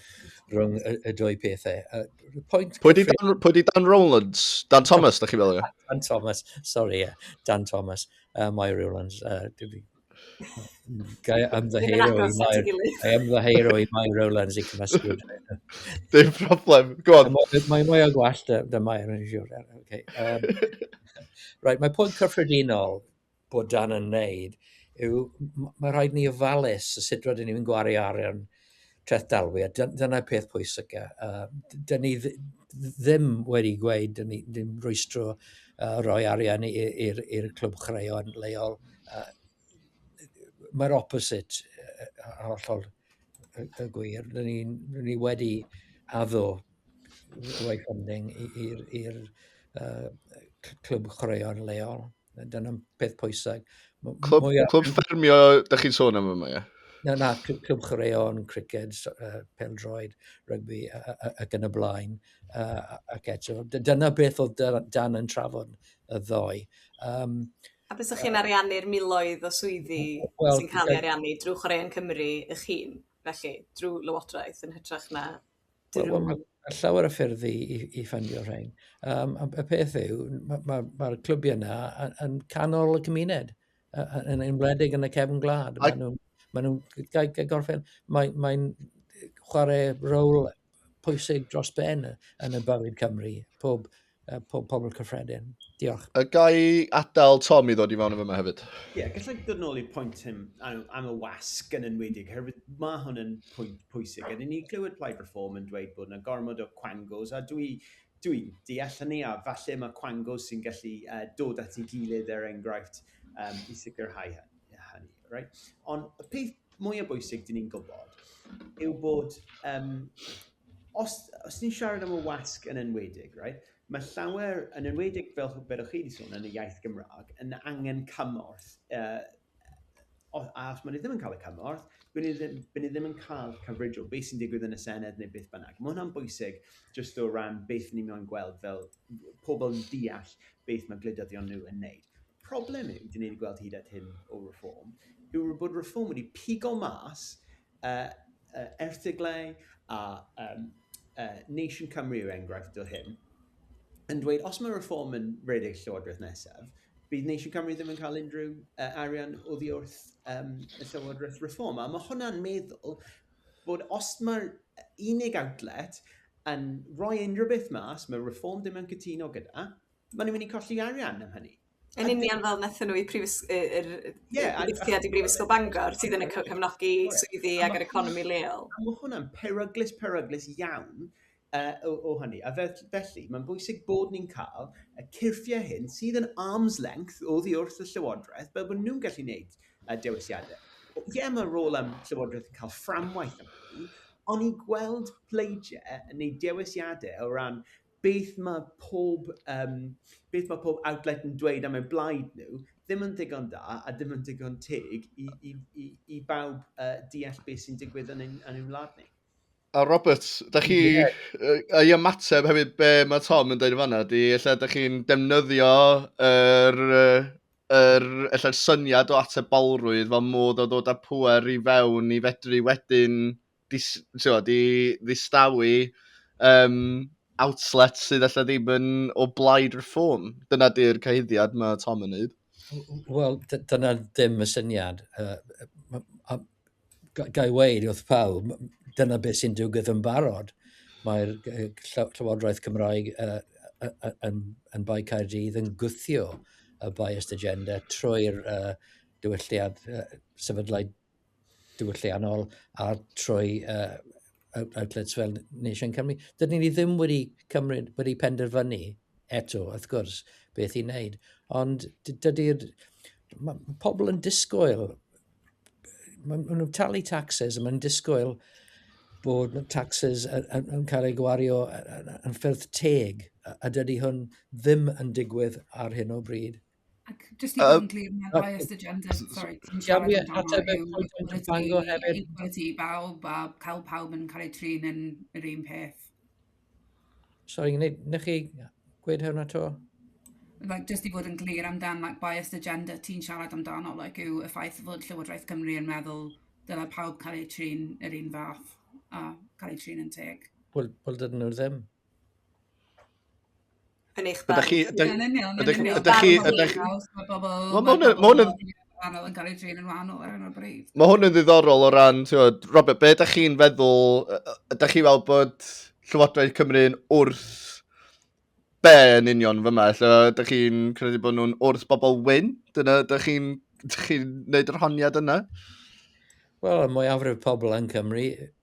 rhwng y, y dwy pethau. Uh, point pwy di Dan, pwy di Dan Rowlands? Dan Thomas, da chi fel yna? Dan Thomas, sorry, yeah. Dan Thomas, uh, Mair Rowlands. Uh, Gai ymddeheiro i Mair. Gai ymddeheiro i Mair Rowlands i cymysgu. Dim problem. Go on. Mae mwy o gwallt dy Mair yn siwr. Okay. Um, right, mae pwynt cyffredinol bod Dan yn wneud yw, mae rhaid ni ofalus y sut rydyn ni'n gwario arian treth dalwi, a dyna'r peth pwysica. Uh, dyn ni ddim wedi gweud, dyn ni ddim rwystro uh, roi arian i'r clwb chreon leol. Uh, Mae'r opposite uh, hollol y gwir. Dyn ni, ni wedi addo roi funding i'r uh, clwb chreon leol. Dyna'n peth pwysau. Clwb, mwya... clwb ffermio, da chi'n sôn am yma, ie? Na, na, clwb chwaraeon, criced, uh, peldroed, rygbi ac yn y blaen. Uh, ac eto, dyna beth oedd Dan yn trafod y ddoe. Um, a beth ydych chi'n ariannu'r miloedd o swyddi well, sy'n cael ei ariannu drwy Chwaraeon Cymru eich hun, felly, drwy Lywodraeth yn hytrach na Wel, wel, mae llawer o ffyrdd i, i, i ffandio rhain. Um, y peth yw, mae'r ma, ma, ma clybiau yna yn canol y cymuned, yn enwedig yn y cefn gwlad. Maen nhw'n ma nhw gorffen, mae'n mae chwarae rôl pwysig dros ben yn y bywyd Cymru. Pob uh, po pobl cyffredin. Diolch. Y gai adael Tom i ddod i fewn efo yma hefyd? Ie, yeah, gallai ddod yn ôl i'r pwynt hyn am, am y wasg yn enwedig, herwydd mae hwn yn pwynt pwysig. Ydyn ni glywed Plaid Reform yn dweud bod yna gormod o quangos, a dwi dwi'n deall hynny, a falle mae quangos sy'n gallu uh, dod at ei gilydd er enghraifft um, i sicrhau hynny. Right? Ond y peth mwyaf bwysig dyn ni'n gwybod yw bod um, Os, os ni'n siarad am y wasg yn enwedig, right, mae llawer, yn enwedig fel bedoch chi wedi sôn yn y iaith Gymraeg, yn angen cymorth. Uh, a os maen nhw ddim yn cael y cymorth, byn nhw ddim, byn nhw ddim yn cael cyfrif o beth sy'n digwydd yn y Senedd neu beth bynnag. Mae hwnna'n bwysig jyst o ran beth ni'n mynd gweld fel pobl yn deall beth mae gwleidyddion nhw yn neud. Problem yw, dyn ni'n gweld hyd at hyn o reform, yw bod reform wedi pigo mas erthyglau a um, uh, Nation Cymru yw'r enghraifft o hyn, yn dweud os mae reform yn rhedeg llywodraeth nesaf, bydd Nation Cymru ddim yn cael unrhyw uh, arian o ddi wrth um, y llywodraeth reform. A mae hwnna'n meddwl bod os mae'r unig outlet yn rhoi unrhyw beth mas, mae reform ddim yn cytuno gyda, maen nhw'n mynd i colli arian am hynny. Yn union fel nathon nhw i prifys- yy yr yy... Ie. ...i Brifysgol Bangor sydd yn y cyf- cefnogi swyddi ag yr economi leol. A ma' hwnna'n peryglus peryglus iawn yy o o hynny a fe- felly mae'n bwysig bod ni'n cael y cyrffiau hyn sydd yn arm's length oddi wrth y Llywodraeth fel bod nhw'n gallu gwneud y dewisiadau. Ie yeah, mae rôl am Llywodraeth yn cael fframwaith am hynny, ond i gweld pleidiau yn gwneud dewisiadau o ran beth mae pob, um, beth mae pob outlet yn dweud am eu blaid nhw, ddim yn ddigon da a ddim yn ddigon teg i, i, i, i bawb uh, deall beth sy'n digwydd yn ein, yn ein wlad ni. A Robert, da chi, yeah. uh, i ymateb hefyd be mae Tom yn dweud yn fanna, di, ella da chi'n defnyddio yr, er, er, er syniad o atebolrwydd fel modd o ddod â pwer i fewn i fedru wedyn dis, tio, di ddistawu um, outlet sydd allai ddim yn o blaid reform. Dyna di'r cyhyddiad mae Tom yn neud. Wel, dyna ddim y syniad. Uh, a, gai weid wrth pawb, dyna beth sy'n digwydd yn barod. Mae'r Llywodraeth Cymraeg uh, yn, yn Bae Caerdydd yn gwthio y biased agenda trwy'r uh, diwylliad uh, sefydlau diwylliant ôl a trwy uh, outlets fel Nation Cymru. Dydyn ni ddim wedi cymryd, wedi penderfynu eto, wrth gwrs, beth i wneud. Ond dydy'r... Mae pobl yn disgwyl, maen nhw'n talu taxes, maen nhw'n disgwyl bod taxes yn cael ei gwario yn ffyrdd teg, a dydy hwn ddim yn digwydd ar hyn o bryd. Ac jyst i fod yn glir, mae'r biased agenda, sorry, yn siarad amdano yw equality i bawb a cael pawb yn cael eu trin yn yr un peth. Sorry, nech chi gweud hwnna to? Like, just i fod yn glir amdan like, biased agenda ti'n siarad amdano, like, yw y ffaith fod Llywodraeth Cymru yn meddwl dyna pawb cael eu trin yr un fath a cael eu trin yn teg. Wel, well, dydyn nhw ddim. Yn eich barn. Ydych chi... Ydych, yn union, ydych, yn union. Ydych chi... Ydych chi... Mae bobl... Mae hwn yn... Mae hwn yn... Wahanol yn cael ei drin yn wahanol ar hyn o bryd. Mae hwn yn ddiddorol o ran, ti'n Robert, be ydych chi'n feddwl, ydych chi fel bod Llywodraeth Cymru'n wrth be yn union fyma? Lle ydych chi'n credu bod nhw'n wrth bobl wyn? Dyna ydych chi'n chi wneud yr honiad yna? Wel, y mwyafrif pobl yn Cymru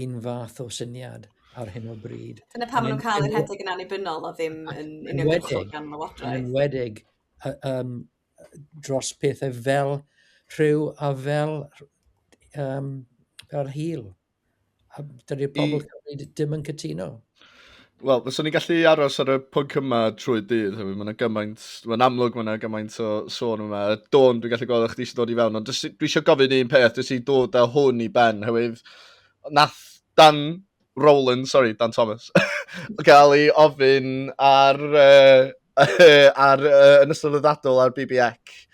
un fath o syniad ar hyn o bryd. Dyna pam maen nhw'n cael eu rhedeg yn annibynnol a ddim yn uniongyrchol gan lywodraeth. Yn wedig um, dros pethau fel rhyw a fel um, fel hil. Dydy'r pobl Cymru ddim yn cytuno. Wel, fyswn i'n gallu aros ar y pwnc yma trwy dydd, hefyd. Mae'n gymaint, mae'n amlwg mae'n gymaint o sôn yma. Dawn, dwi'n gallu gweld o'ch chi eisiau dod i fewn, ond dwi eisiau gofyn un peth, dwi eisiau dod â hwn i ben, hefyd. Nath Dan Rowland, sorry, Dan Thomas, gael ei ofyn ar, uh, ar uh, yn ystod y ddadl ar BBX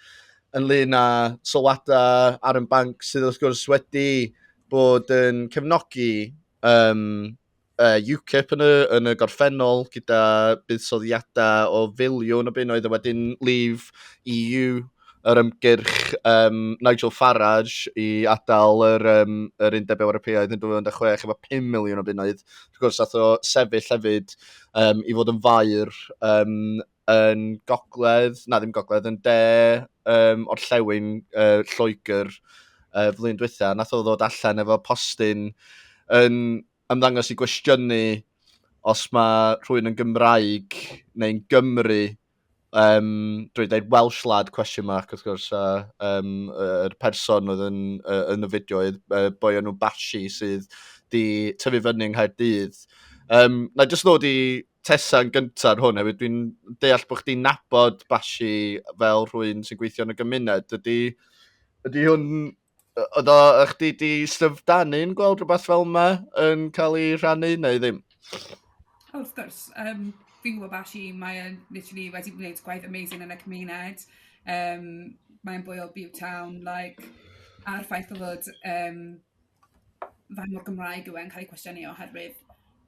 ynglyn â sylwadau ar yn banc sydd wrth gwrs wedi bod yn cefnogi um, uh, UKIP yn y, yn y gorffennol gyda buddsoddiadau o filiwn o bunnoedd a wedyn Leave EU yr ymgyrch um, Nigel Farage i adael yr, um, yr Undeb Ewropeaidd yn 2016 efo 5 miliwn o bunnoedd. Wrth gwrs, ath o sefyll hefyd um, i fod yn fair um, yn gogledd, na ddim gogledd, yn de um, o'r llewn uh, Lloegr uh, flwyddyn diwetha, nath o ddod allan efo postyn yn ymddangos i gwestiynu os mae rhywun yn Gymraeg neu'n Gymru um, drwy dweud Welsh lad question mark wrth gwrs a um, yr person oedd yn, uh, yn y fideo oedd uh, boi o'n nhw Bashi sydd di tyfu fyny yng Nghaerdydd. Um, na jyst ddod i Tessa yn gyntaf ar hwn hefyd. Dwi'n deall bod chdi'n nabod Bashi fel rhywun sy'n gweithio yn y gymuned. Ydy, ydy hwn... Oedd o, ych chdi di styfdanu'n gweld rhywbeth fel yma yn cael ei rhannu neu ddim? Oh, wrth gwrs. Um, fi'n gwybod Bashi, mae'n literally wedi gwneud gwaith amazing yn y cymuned. Um, mae'n bwy o Bew Town, like, a'r ffaith o fod um, faint mor Gymraeg yw e'n cael ei cwestiynu oherwydd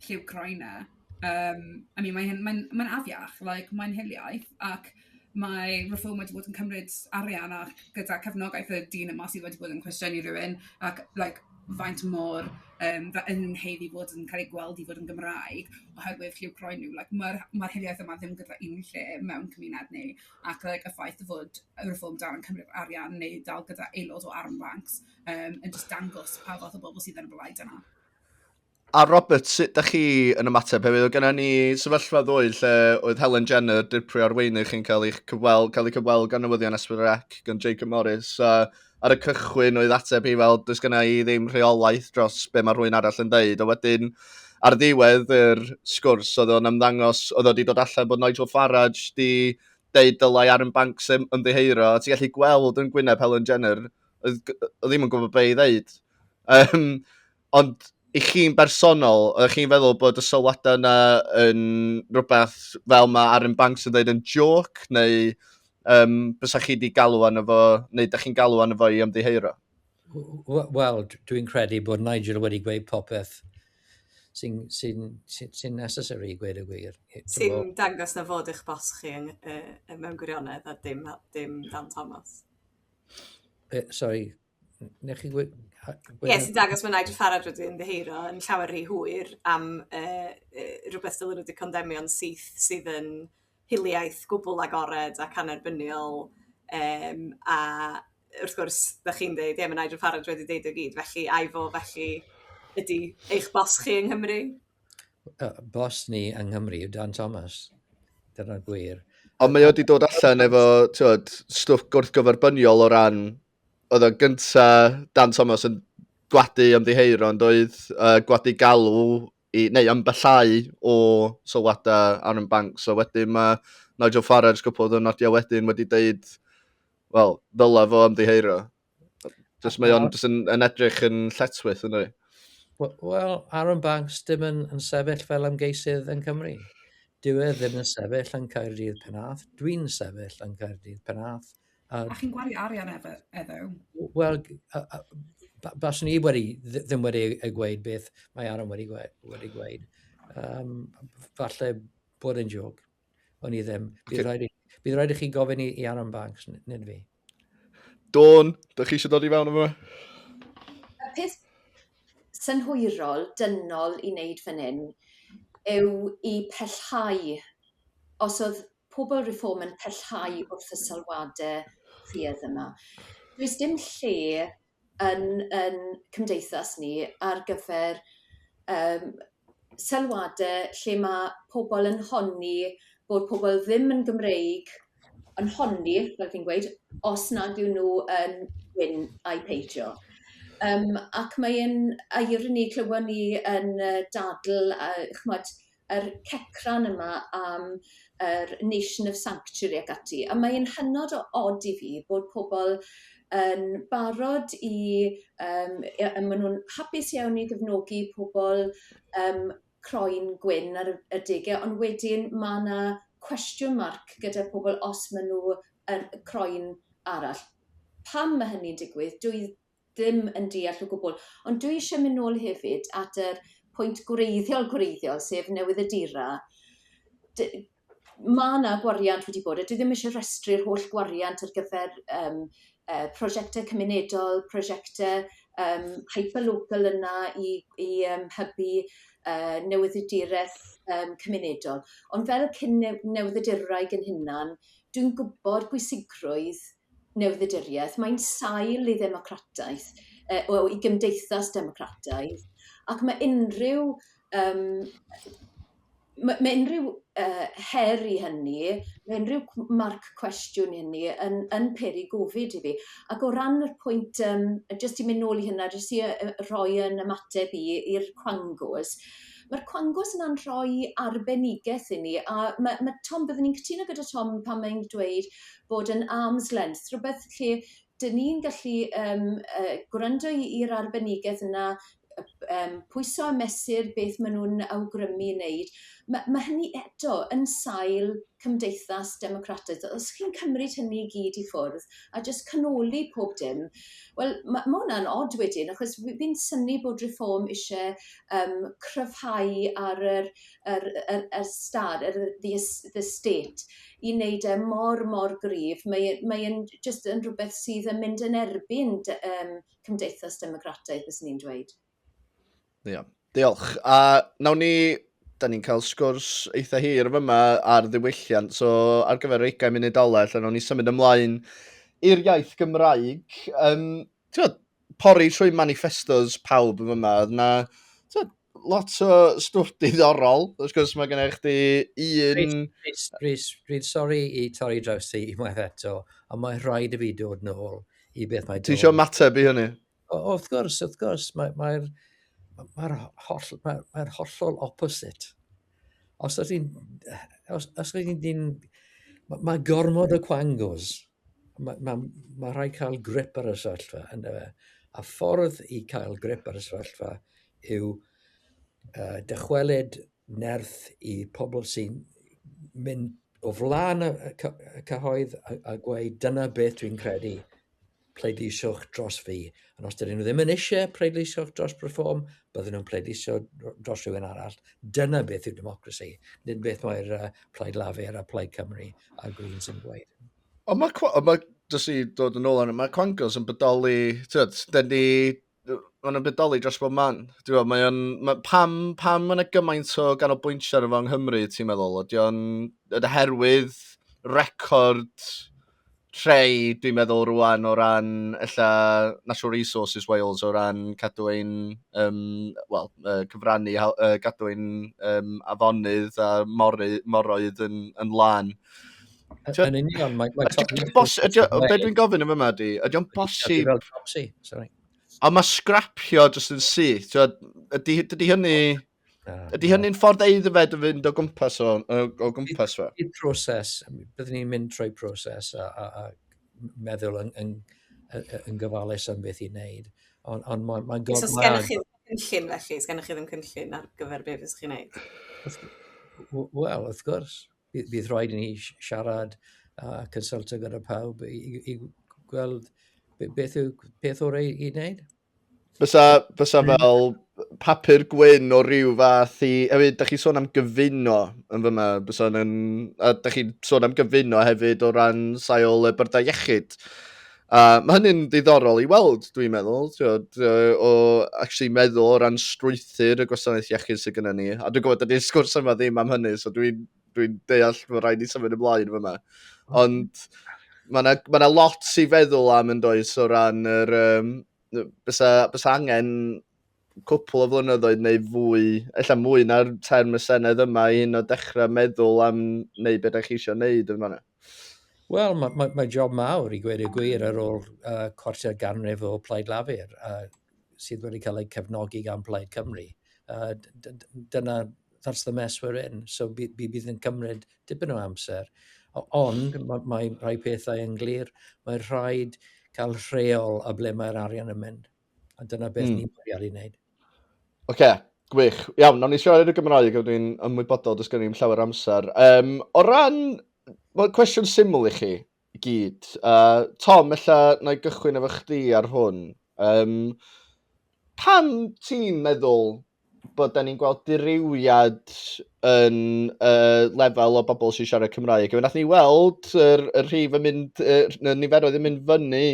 lliw croen e. Yym, I mean, mae hyn... mae'n mae'n afiach, like, mae'n hiliaeth, ac mae Reform wedi bod yn cymryd arian a gyda cefnogaeth y dyn yma sydd wedi bod yn cwestiynu rhywun, ac, like, faint mor yym fe- yn nhw'n haeddu fod yn cael eu gweld i fod yn Gymraeg oherwydd lliw croen nhw. Like, mae'r mae'r hiliaeth yma ddim gyda unrhyw lle mewn cymuned ni, ac, like, y ffaith fod y Reform dal yn cymryd arian neu dal gyda aelod o Armed Fancs, um, yn just dangos pa fath o bobl sydd ar y blaid yna. A Robert, sut da chi yn ymateb hefyd? Oedd gennym ni sefyllfa ddwy lle oedd Helen Jenner, dirprwy arweinydd chi'n cael eich cyfweld, cael ei cyfweld gan newyddion Esbyrrac, gan Jacob Morris. A ar y cychwyn oedd ateb hi fel, does gennym ni ddim rheolaeth dros be mae rhywun arall yn dweud. A wedyn, ar ddiwedd yr sgwrs, oedd o'n ymddangos, oedd wedi dod allan bod Nigel Farage di deud dylai Aaron Banks ymddiheuro. A ti'n gallu gweld yn gwyneb Helen Jenner oedd ddim yn gwybod beth i ddeud. Um, ond i chi'n bersonol, ydych chi'n feddwl bod y sylwadau yna yn rhywbeth fel mae Aaron Banks yn dweud yn joc, neu um, bysa chi wedi galw arno fo, neu ydych chi'n galw arno fo i ymddiheuro? Wel, dwi'n credu bod Nigel wedi gweud popeth sy'n sy sy sy necessary, gweud y gwir. Sy'n dangos na fod eich bos chi yn, uh, mewn gwirionedd a dim, dim Dan Thomas. Uh, sorry, nech chi gwybod... Ie, yes, sy'n dangos mae Nigel Farage wedi ymddeheiro yn llawer rhy hwyr am uh, uh, rhywbeth dylwn wedi condemio'n syth sydd yn hiliaeth gwbl agored ac anerbyniol um, a wrth gwrs, da chi'n dweud, ie, mae Nigel Farage wedi deud o gyd, felly ai fo felly ydy eich bos chi yng Nghymru? uh, bos ni yng Nghymru yw Dan Thomas. Dyna'r gwir. Ond mae o wedi dod allan efo tywed, stwff gwrthgyferbyniol o ran... Oedd o'n gynta Dan Thomas yn gwadu ymddiheir ond oedd uh, gwadu galw i, neu ymbellau o sylwadau Aaron Banks. So wedyn mae Nigel Farage gwybod yn nodio wedyn wedi dweud, wel, ddyla fo ymddiheiro. Just mae o'n yn, yn edrych yn lletwyth yn ei. Wel, Aaron Banks dim yn, yn sefyll fel ymgeisydd yn Cymru. Dyw e ddim yn sefyll yn Caerdydd Penath. Dwi'n sefyll yn Caerdydd Penath. A, a chi'n gwario arian efo? efo? Wel, bas ni wedi, ddim wedi ei gweud beth mae Aaron wedi gweud. Wedi gweud. Um, falle bod yn jog. O'n i ddim. Bydd okay. rhaid, i, bydd rhaid i chi gofyn i, i Aaron Banks, nid fi. Dawn, da chi eisiau dod i fewn yma? Y peth synhwyrol, dynol i wneud fan hyn, yw i pellhau, os oedd pobl reform yn pellhau wrth y sylwadau rhydd yma, does dim lle yn yn cymdeithas ni ar gyfer yym sylwade lle ma' pobol yn honni bod pobol ddim yn Gymreig yn honni fel fi'n gweud os nad yw nw yn gwyn ai peidio yym ac mae e'n aerini clywon ni yn yy dadl a ch'mod yr cecran yma am yr nation of sanctuary ac ati a mae e'n hynod o od i fi bod pobol yn barod i yym ia a ma' nw'n hapus iawn i gefnogi pobol yym croen gwyn ar y y dege ond wedyn ma' 'na cwestiwn marc gyda pobol os ma' n'w yn croen arall. Pam ma' hynny'n digwydd dwy ddim yn deall o gwbl. Ond dwi eisiau mynd nôl hefyd at yr pwynt gwreiddiol gwreiddiol, sef newydd y dira. D mae yna gwariant wedi bod, a dwi ddim eisiau rhestru'r holl gwariant ar gyfer um, uh, prosiectau cymunedol, prosiectau um, hyperlocal yna i, i um, hybu uh, newyddiduraeth um, cymunedol. Ond fel cyn newyddiduraeth yn hynna'n, dwi'n gwybod bwysigrwydd newydd-dduduriaeth, mae'n sail i ddemocrataeth, uh, o, i gymdeithas democrataidd, ac mae unrhyw, um, mae, mae unrhyw uh, her i hynny, mae unrhyw marc cwestiwn i hynny yn, yn peri gofid i fi. Ac o ran yr pwynt, um, jyst i mynd nôl i hynna, jyst i uh, roi yn ymateb i i'r cwangos, Mae'r cwangos yna'n rhoi arbenigaeth i ni, a mae, mae Tom, byddwn ni'n cytuno gyda Tom pan mae'n dweud bod yn arm's length rhywbeth lle 'dyn ni'n gallu yym yy gwrando i i'r arbenigedd yna yy yym pwyso a mesur beth ma' nw'n awgrymu i neud ma' ma' hynny eto yn sail cymdeithas democrataidd os chi'n cymryd hynny i gyd i ffwrdd a jyst canoli pob dim wel ma' ma' wnna'n od wedyn achos fi fi'n synnu bod Reform isie yym cryfhau ar yr yr y yr yr stad yr yy the es- the state i neud e mor mor gryf mae e mae e'n j- jyst yn rhwbeth sydd yn mynd yn erbyn dy- yym cymdeithas democrataidd fyswn i'n dweud. Ie, diolch. A nawn ni, da ni'n cael sgwrs eitha hir fyma ar ddiwylliant, so ar gyfer yr 20 munud ola, lle nawn ni symud ymlaen i'r iaith Gymraeg. Um, tywed, pori trwy manifestos pawb yn fyma, oedd na, tywed, lot o stwff diddorol. Wrth gwrs, mae gennych chdi un... Rhys, Rhys, dwi'n sori i torri draws ti i unwaith eto, ond mae'n rhaid i fi dod nôl i beth mae... Ti eisiau mateb i hynny? O, wrth gwrs, wrth gwrs, mae'r mae mae'r holl, mae'r mae hollol opposite. Os ydych chi'n, os, os ydych chi'n, mae gormod o quangos ma' ma' ma' rhaid cael grip ar y sefyllfa ynde fe? A ffordd i cael grip ar y sefyllfa yw uh, dychwelyd nerth i pobl sy'n mynd o flaen y, cyhoedd a, a gweud dyna beth dwi'n credu pleidisiwch dros fi Ond os dydyn nhw ddim yn eisiau pleidleisio dros Bryform, byddwn nhw'n pleidleisio dros rhywun arall. Dyna beth yw democracy. Nid beth mae'r uh, Plaid Lafur a Plaid Cymru a Greens yn gweud. Ond mae, ond mae dys i dod yn ôl arno, mae Quangos yn bodoli, tyd, dyn ni, maen nhw'n bodoli dros bob man. Dwi'n mae o'n, ma, pam, pam mae yna gymaint o ganolbwyntio ar efo yng Nghymru, ti'n meddwl? Ydy o'n, ydy herwydd record rhai dwi'n meddwl rwan o ran ella Natural Resources Wales o ran cadw ein um, well, uh, cyfrannu uh, gadw ein um, afonydd a mory, moroedd yn, yn lan. Yn union, mae'n... Be dwi'n gofyn yn yma di, ydy o'n bosib... Ond mae scrapio jyst yn syth, ydy hynny... Ah, Ydy hynny'n ffordd eiddfed o fynd o gwmpas o, o, o gwmpas fe? Bydd proses, byddwn ni'n mynd trwy proses a, a, a meddwl yn, yn, yn gyfalus am beth i wneud. Ond on, mae'n ma gofyn... So, sgen chi ddim cynllun felly? Sgen chi ddim cynllun ar gyfer beth fes chi'n wneud? Wel, wrth gwrs. Bydd rhaid i ni siarad a uh, consulto gyda pawb i, i, i gweld beth yw peth orau i wneud. Fysa, fysa fel papur gwyn o ryw fath i... Hefyd, da chi sôn am gyfuno yn fyma. Fysa yn... A da chi sôn am gyfuno hefyd o ran sail y byrdau iechyd. A mae hynny'n ddiddorol i weld, dwi'n meddwl, tiod, o actually meddwl o ran strwythyr y gwasanaeth iechyd sydd gyda ni. A dwi'n gwybod, dydy'r sgwrs yma ddim am hynny, so dwi'n dwi'n deall bod rhaid i symud ymlaen fyma. Hmm. Ond mae yna ma na lot i feddwl am yn does o ran yr... Um, bysa, bysa angen cwpl o flynyddoedd neu fwy, ella mwy na'r term y Senedd yma i hyn o dechrau meddwl am wneud beth ydych chi eisiau wneud yn fanna? Wel, mae, mae, mae job mawr i gweud y gwir ar ôl uh, cwarter ganrif o Plaid Lafur uh, sydd wedi cael eu cefnogi gan Plaid Cymru. Uh, dyna that's the mess we're in, so by- by- bydd yn cymryd dipyn o amser. O- Ond mae, mae rhai pethau yn glir, mae rhaid cael rheol a ble mae'r arian yn mynd. A dyna beth Mm. ni'n bwriadu wneud. Oce, gwych. Iawn, nawn ni siarad yn y Gymraeg, ond ni'n ymwybodol, does gen i'n llawer amser. Um, o ran, wel, cwestiwn syml i chi, i gyd. Uh, Tom, ella na i gychwyn efo chdi ar hwn. Um, pam ti'n meddwl bod da ni'n gweld diriwiad yn uh, lefel o bobl sy'n siarad Cymraeg. Fe nath ni weld yr, yr rhif yn mynd, y niferoedd yn mynd fyny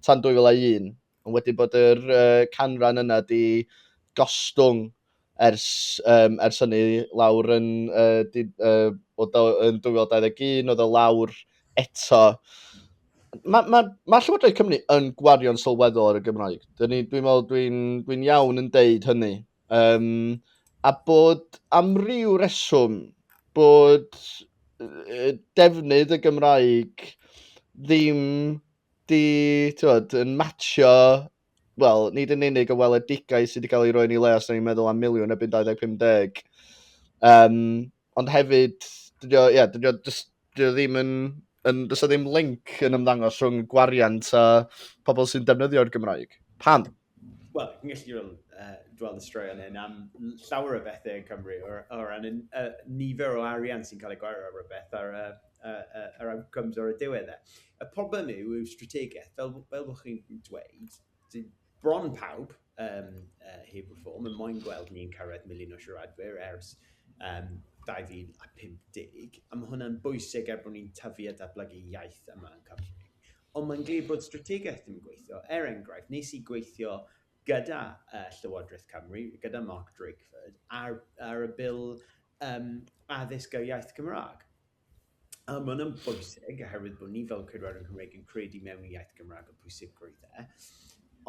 tan 2001. Ond wedi bod yr uh, canran yna di gostwng ers, um, ers hynny lawr yn, uh, di, uh, o, yn 2021, oedd o lawr eto. Mae ma, ma Llywodraeth Cymru yn gwario'n sylweddol ar y Gymraeg. Dwi'n dwi meddwl dwi'n dwi iawn yn deud hynny. Um, a bod am ryw reswm bod defnydd y Gymraeg ddim di, tywed, yn matcho, wel, nid yn unig y weledigaeth sydd wedi cael ei roi ni le os ni'n meddwl am miliwn ebyn 2050, um, ond hefyd, dydy o, yeah, dydy o, dydy o ddim yn, yn dydy o ddim link yn ymddangos rhwng gwariant a pobl sy'n defnyddio'r Gymraeg. Pam? Wel, chi'n gallu fel, uh, gweld y straeon hyn am llawer o bethau yn Cymru, o, o ran y uh, nifer o arian sy'n cael ei gwario ar rhywbeth, ar y, uh, uh, yr outcomes ar y diwedd e. Y problem yw, yw strategaeth, fel, fel bod chi'n dweud, bron pawb, um, uh, heb y ffôn, mae moyn gweld ni'n cyrraedd miliwn o siaradwyr ers um, 2050, a mae hwnna'n bwysig er bod ni'n tyfu a datblygu iaith yma yn Cymru. Ond mae'n glir bod strategaeth ddim yn gweithio. Er enghraifft, nes i gweithio gyda uh, Llywodraeth Cymru, gyda Mark Drakeford, ar, ar y bil um, addysg ar iaith Cymraeg. A mae hwnna'n bwysig, oherwydd bod ni fel Cydwar yn Cymraeg yn credu mewn iaith Gymraeg y pwysigrwydd e.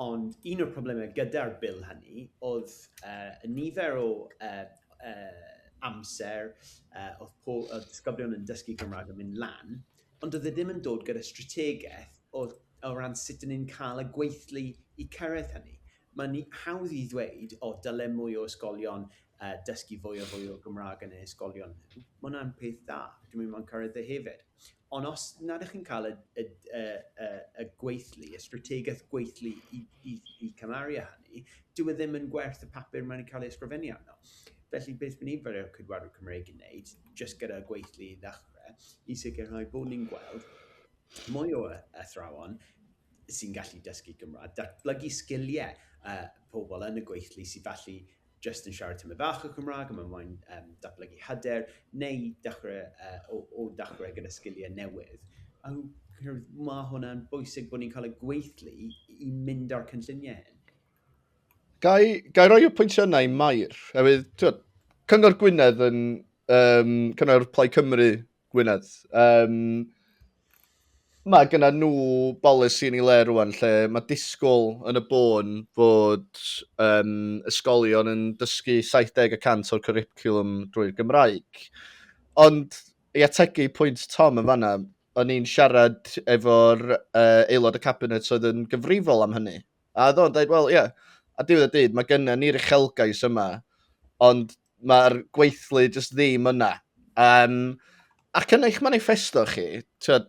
Ond un o'r problemau gyda'r bil hynny oedd uh, y nifer o uh, uh, amser uh, oedd, oedd disgyblion yn dysgu Gymraeg yn mynd lan, Ond oedd e ddim yn dod gyda strategaeth o o ran sut 'dyn ni'n cael y gweithlu i cyrraedd hynny. Mae'n i- hawdd i ddweud, o, dyle mwy o ysgolion yy dysgu fwy a fwy o Gymraeg yn eu hysgolion nhw. Mae hwnna'n peth dda, dwi'n meddwl mae'n cyrraedd e hefyd. Ond os nad ydych chi'n cael y y y y y gweithlu, y strategaeth gweithlu i i i cymharu â hynny, dyw e ddim yn gwerth y papur mae'n cael ei ysgrifennu arno. Felly beth mae nifer o cydwladwyr Cymreig yn wneud, jyst gyda gweithlu i ddechrau, i sicrhau bod ni'n gweld mwy o athrawon sy'n gallu dysgu Cymraeg, datblygu sgiliau uh, pobl yn y gweithlu sy'n falle jyst yn siarad tymor fach o Cymraeg a mae'n moyn um, datblygu hyder, neu dechrau, uh, o, o dechrau gyda sgiliau newydd. A mae hwnna'n bwysig bod ni'n cael y gweithlu i mynd â'r cynlluniau hyn. Gai, gai roi y pwyntiau yna i Mair? Hefyd, twyd, Cyngor Gwynedd yn... Um, Cyngor Plaid Cymru Gwynedd. Um, mae gyda nhw bolisi yn ei le rwan lle mae disgwyl yn y bôn fod um, ysgolion yn dysgu 70% o'r curriculum drwy'r Gymraeg. Ond i ategu pwynt Tom yn fanna, o'n i'n siarad efo'r uh, aelod y cabinet oedd yn gyfrifol am hynny, A oedd o'n dweud, wel, ie, yeah, a diwedd y dyd, mae gennym ni'r uchelgais yma, ond mae'r gweithlu jyst ddim yna. Um, ac yn eich manifesto chi, tyd,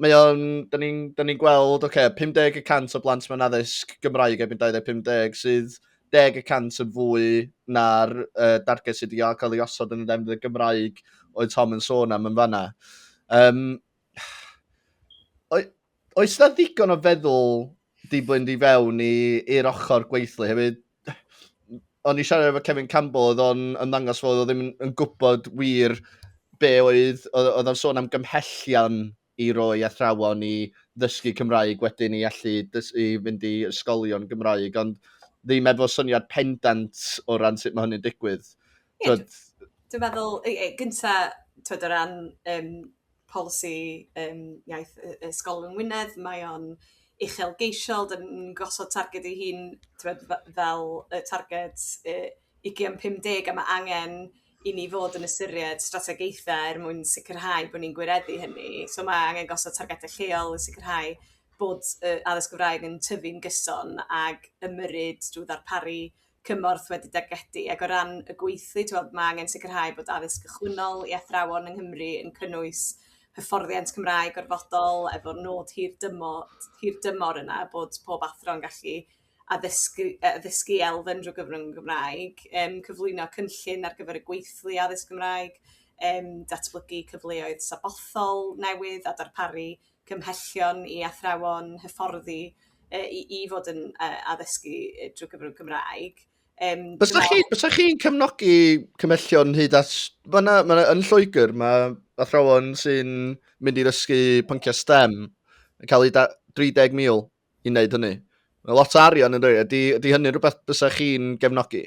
mae o'n, da ni'n ni gweld, oce, okay, 50 y cant o blant mewn addysg Gymraeg erbyn 2050 sydd 10 y cant yn fwy na'r uh, darged sydd wedi cael ei osod yn y defnydd y Gymraeg oedd Tom yn sôn am yn fanna. Um, oes na ddigon o feddwl di blwynd i fewn i'r ochr gweithlu hefyd? O'n i siarad efo Kevin Campbell, oedd o'n ymddangos fod o ddim yn gwybod wir be oedd, oedd o'n sôn am gymhellion i roi athrawon i ddysgu Cymraeg wedyn i allu i fynd i ysgolion Gymraeg, ond ddim efo syniad pendant o ran sut mae hynny'n digwydd. Ie, dwi'n meddwl, gyntaf, o ran um, polisi yym iaith yy ysgol yng Ngwynedd mae o'n uchelgeisiol 'dan ni'n gosod targed ei hun t'mod fe- fel y targed yy ugian pum deg a ma' angen i ni fod yn ystyried strategaethe er mwyn sicrhau bo' ni'n gwireddu hynny so ma' angen gosod targede lleol i sicrhau bod yy addysg Gymraeg yn tyfu'n gyson ag ymyrryd drw ddarparu cymorth wedi dargedu ac o ran y gweithlu t'wod ma' angen sicrhau bod addysg gychwynnol i athrawon yng Nghymru yn cynnwys hyfforddiant Cymraeg gorfodol efo nod hir dymo- hir dymor yna bod pob athro yn gallu addysgu yy addysgu elfen drwy gyfrwng y Gymraeg yym cyflwyno cynllun ar gyfer y gweithlu addysg Gymraeg yym datblygu cyfleoedd sabothol newydd a darparu cymhellion i athrawon hyfforddi yy i i fod yn yy addysgu yy drwy gyfrwng Cymraeg. Um, Bysa chi, bysa chi'n cefnogi cymhellion hyd at... Mae yna, ma yn Lloegr, mae athrawon sy'n mynd i ddysgu pynciau STEM yn cael eu 30,000 i wneud hynny? Mae lot o arian yn rhoi, ydy, ydy hynny'n rhywbeth bysach chi'n gefnogi?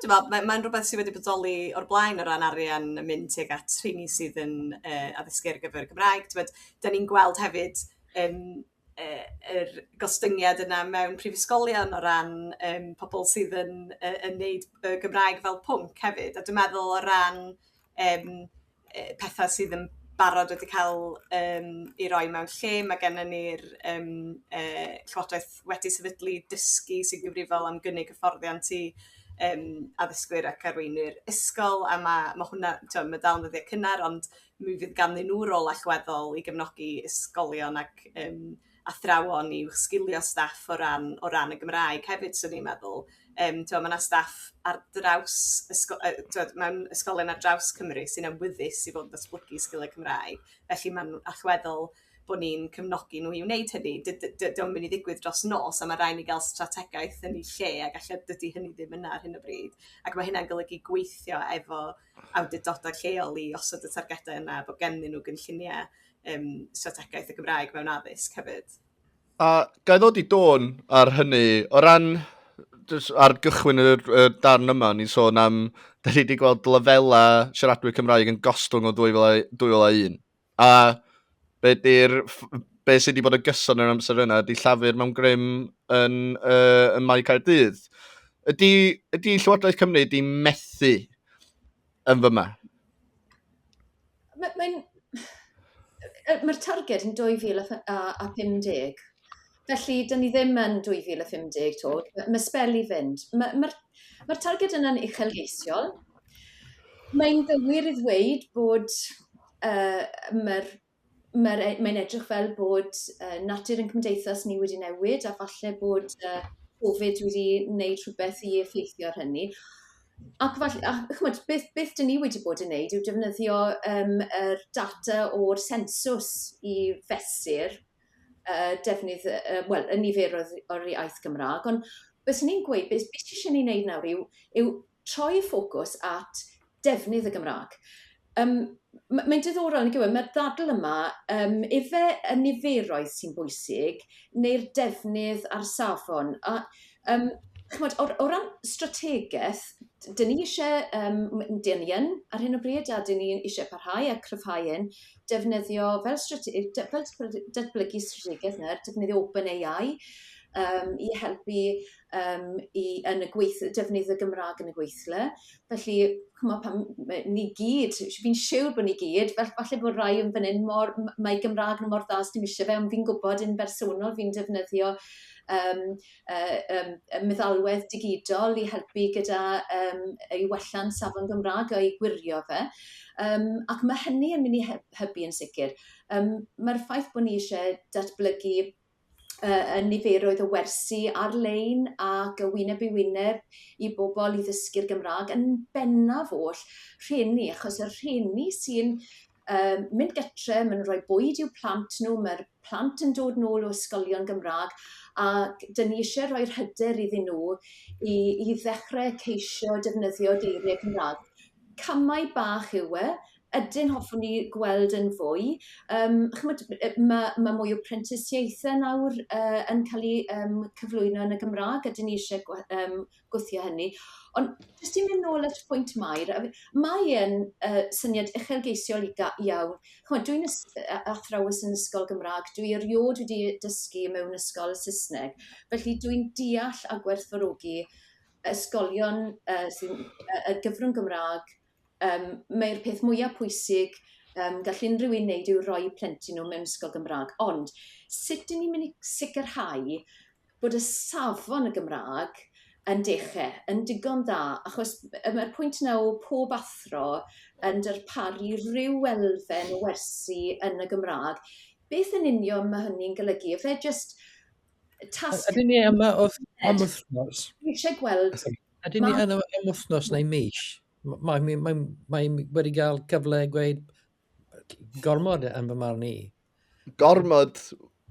Dwi'n meddwl, mae'n mae rhywbeth sydd wedi bodoli o'r blaen o ran arian yn mynd tuag at rheini sydd yn uh, addysgu ar gyfer y Gymraeg. Ti'n da ni'n gweld hefyd um, uh, er gostyngiad yna mewn prifysgolion o ran um, pobl sydd yn, uh, yn neud uh, Gymraeg fel pwnc hefyd. A dwi'n meddwl o ran yym yy petha' sydd yn barod wedi ca'l yym 'u roi mewn lle ma' gennon ni'r yym yy llywodraeth wedi sefydlu dysgu sy'n gyfrifol am gynnig hyfforddiant i yym addysgwyr ac arweinwyr ysgol a ma' ma' hwnna t'o' ma' dal yn ddyddie cynnar ond mi fydd ganddyn nw rôl allweddol i gefnogi ysgolion ac yym athrawon i'w sgilio staff o ran o ran y Gymraeg hefyd 'swn i'n meddwl yym t'mo' ma' 'na staff ar draws ysgo- yy t'od mewn ysgolion ar draws Cymru sy'n awyddus i fod yn datblygu sgilie Cymraeg felly ma'n allweddol bo' ni'n cefnogi nhw i wneud hynny dy- dy- dydi o'm myn' i ddigwydd dros nos a ma' rai' ni ga'l strategaeth yn 'i lle ag elle dydi hynny ddim yna ar hyn o bryd ac ma' hynna'n golygu gweithio efo awdurdoda' lleol i osod y targede yna bo' gennyn nhw gynllunie um, strategaeth y Gymraeg mewn addysg hefyd. A gael ddod i dôn ar hynny, o ran ar gychwyn y, y darn yma, ni'n sôn am, da ni wedi gweld lefelau siaradwyr Cymraeg yn gostwng o 2001. A be, di'r, be sydd wedi bod y gyson yn amser yna, ydy llafur mewn grym yn, uh, yn Mae Caerdydd. Ydy, ydy Llywodraeth Cymru wedi methu yn fy ma? Mae'n... Mae'r targed yn 2050. Felly, dyn ni ddim yn 2050 to. Mae spel i fynd. Mae'r ma Mae'r targed yna'n uchelgeisiol. Mae'n gywir i ddweud bod uh, mae'r Mae'r e- mae'n edrych fel bod yy natur ein cymdeithas ni wedi newid a falle bod yy Covid wedi wneud rhywbeth i effeithio ar hynny. Ac fall- a ch'mod beth beth 'dyn ni wedi bod yn neud yw defnyddio yym yr data o'r sensws i fesur yy defnydd yy yy wel y niferoedd o'r iaith Gymra'g on' byswn i'n gweud be' be' sy isie ni neud nawr yw yw troi ffocws at defnydd y Gymraeg. Yym, m- mae'n diddorol, nag yw e, mae'r ddadl yma, um, ife y niferoedd sy'n bwysig, neu'r defnydd a'r safon. A, um, chymod, o, o ran strategaeth, dyn ni eisiau, um, dyn ni yn ar hyn o bryd, a dyn ni eisiau parhau a cryfhau hyn, defnyddio fel, strate, fel datblygu strategaeth neu'r defnyddio open AI um, i helpu yym i yn y gweith- defnydd y Gymraeg yn y gweithle. Felly, ch'mo' pan m- ma' ni gyd, sh- fi'n siwr bo' ni gyd, fa- falle bod rai yn fan 'yn mor m- mae Gymraeg nw mor dda sdim isie fe, ond fi'n gwbod yn bersonol fi'n defnyddio yym yy yym y meddalwedd digidol i helpu gyda yym yy i wella'n safon Gymra'g a'i gwirio fe. Yym ac ma' hynny yn myn' i he- hybu yn sicir. Yym ma'r ffaith bo' ni isie datblygu yy yn niferoedd o wersi ar-lein ac y wyneb i wyneb i bobl i ddysgu'r Gymraeg yn bennaf oll rhieni achos y rhieni sy'n um, mynd gytre, mae'n rhoi bwyd i'w plant nhw, mae'r plant yn dod nôl o ysgolion Gymraeg ac dyn ni eisiau rhoi'r hyder iddyn nhw i, i ddechrau ceisio defnyddio geiriau Cymraeg. Camau bach yw e, Ydyn, hoffwn ni gweld yn fwy. Um, chymod, mae, mae mwy o prentisiaethau nawr uh, yn cael ei um, cyflwyno yn y Gymraeg, ydyn ni eisiau um, gwthio hynny. Ond jyst i'n mynd nôl at y pwynt mair, mae yn uh, syniad uchelgeisiol iawn. Chymod, dwi'n athrawes yn ysgol Gymraeg, dwi erioed wedi dysgu mewn ysgol Saesneg, felly dwi'n deall a gwerthfawrogi ysgolion uh, sy'n uh, gyfrwng Gymraeg Yym, mae'r peth mwya' pwysig yym gall unrhyw un wneud yw rhoi plentyn nhw mewn ysgol Gymraeg, ond sut 'dyn ni'n mynd i sicrhau bod y safon y Gymraeg yn dechre yn digon dda, achos yym y pwynt yna o pob athro yn darparu ryw elfen o wersi yn y Gymraeg, beth yn union mae hynny'n golygu? Ife jyst tasg... Ydyn ni yma wrth am wythnos? Dwi isie gweld Ydyn ni yn am wythnos neu mis? Mae mae mae mae wedi cael cyfle gweud gormod yn fy marn i. Gormod?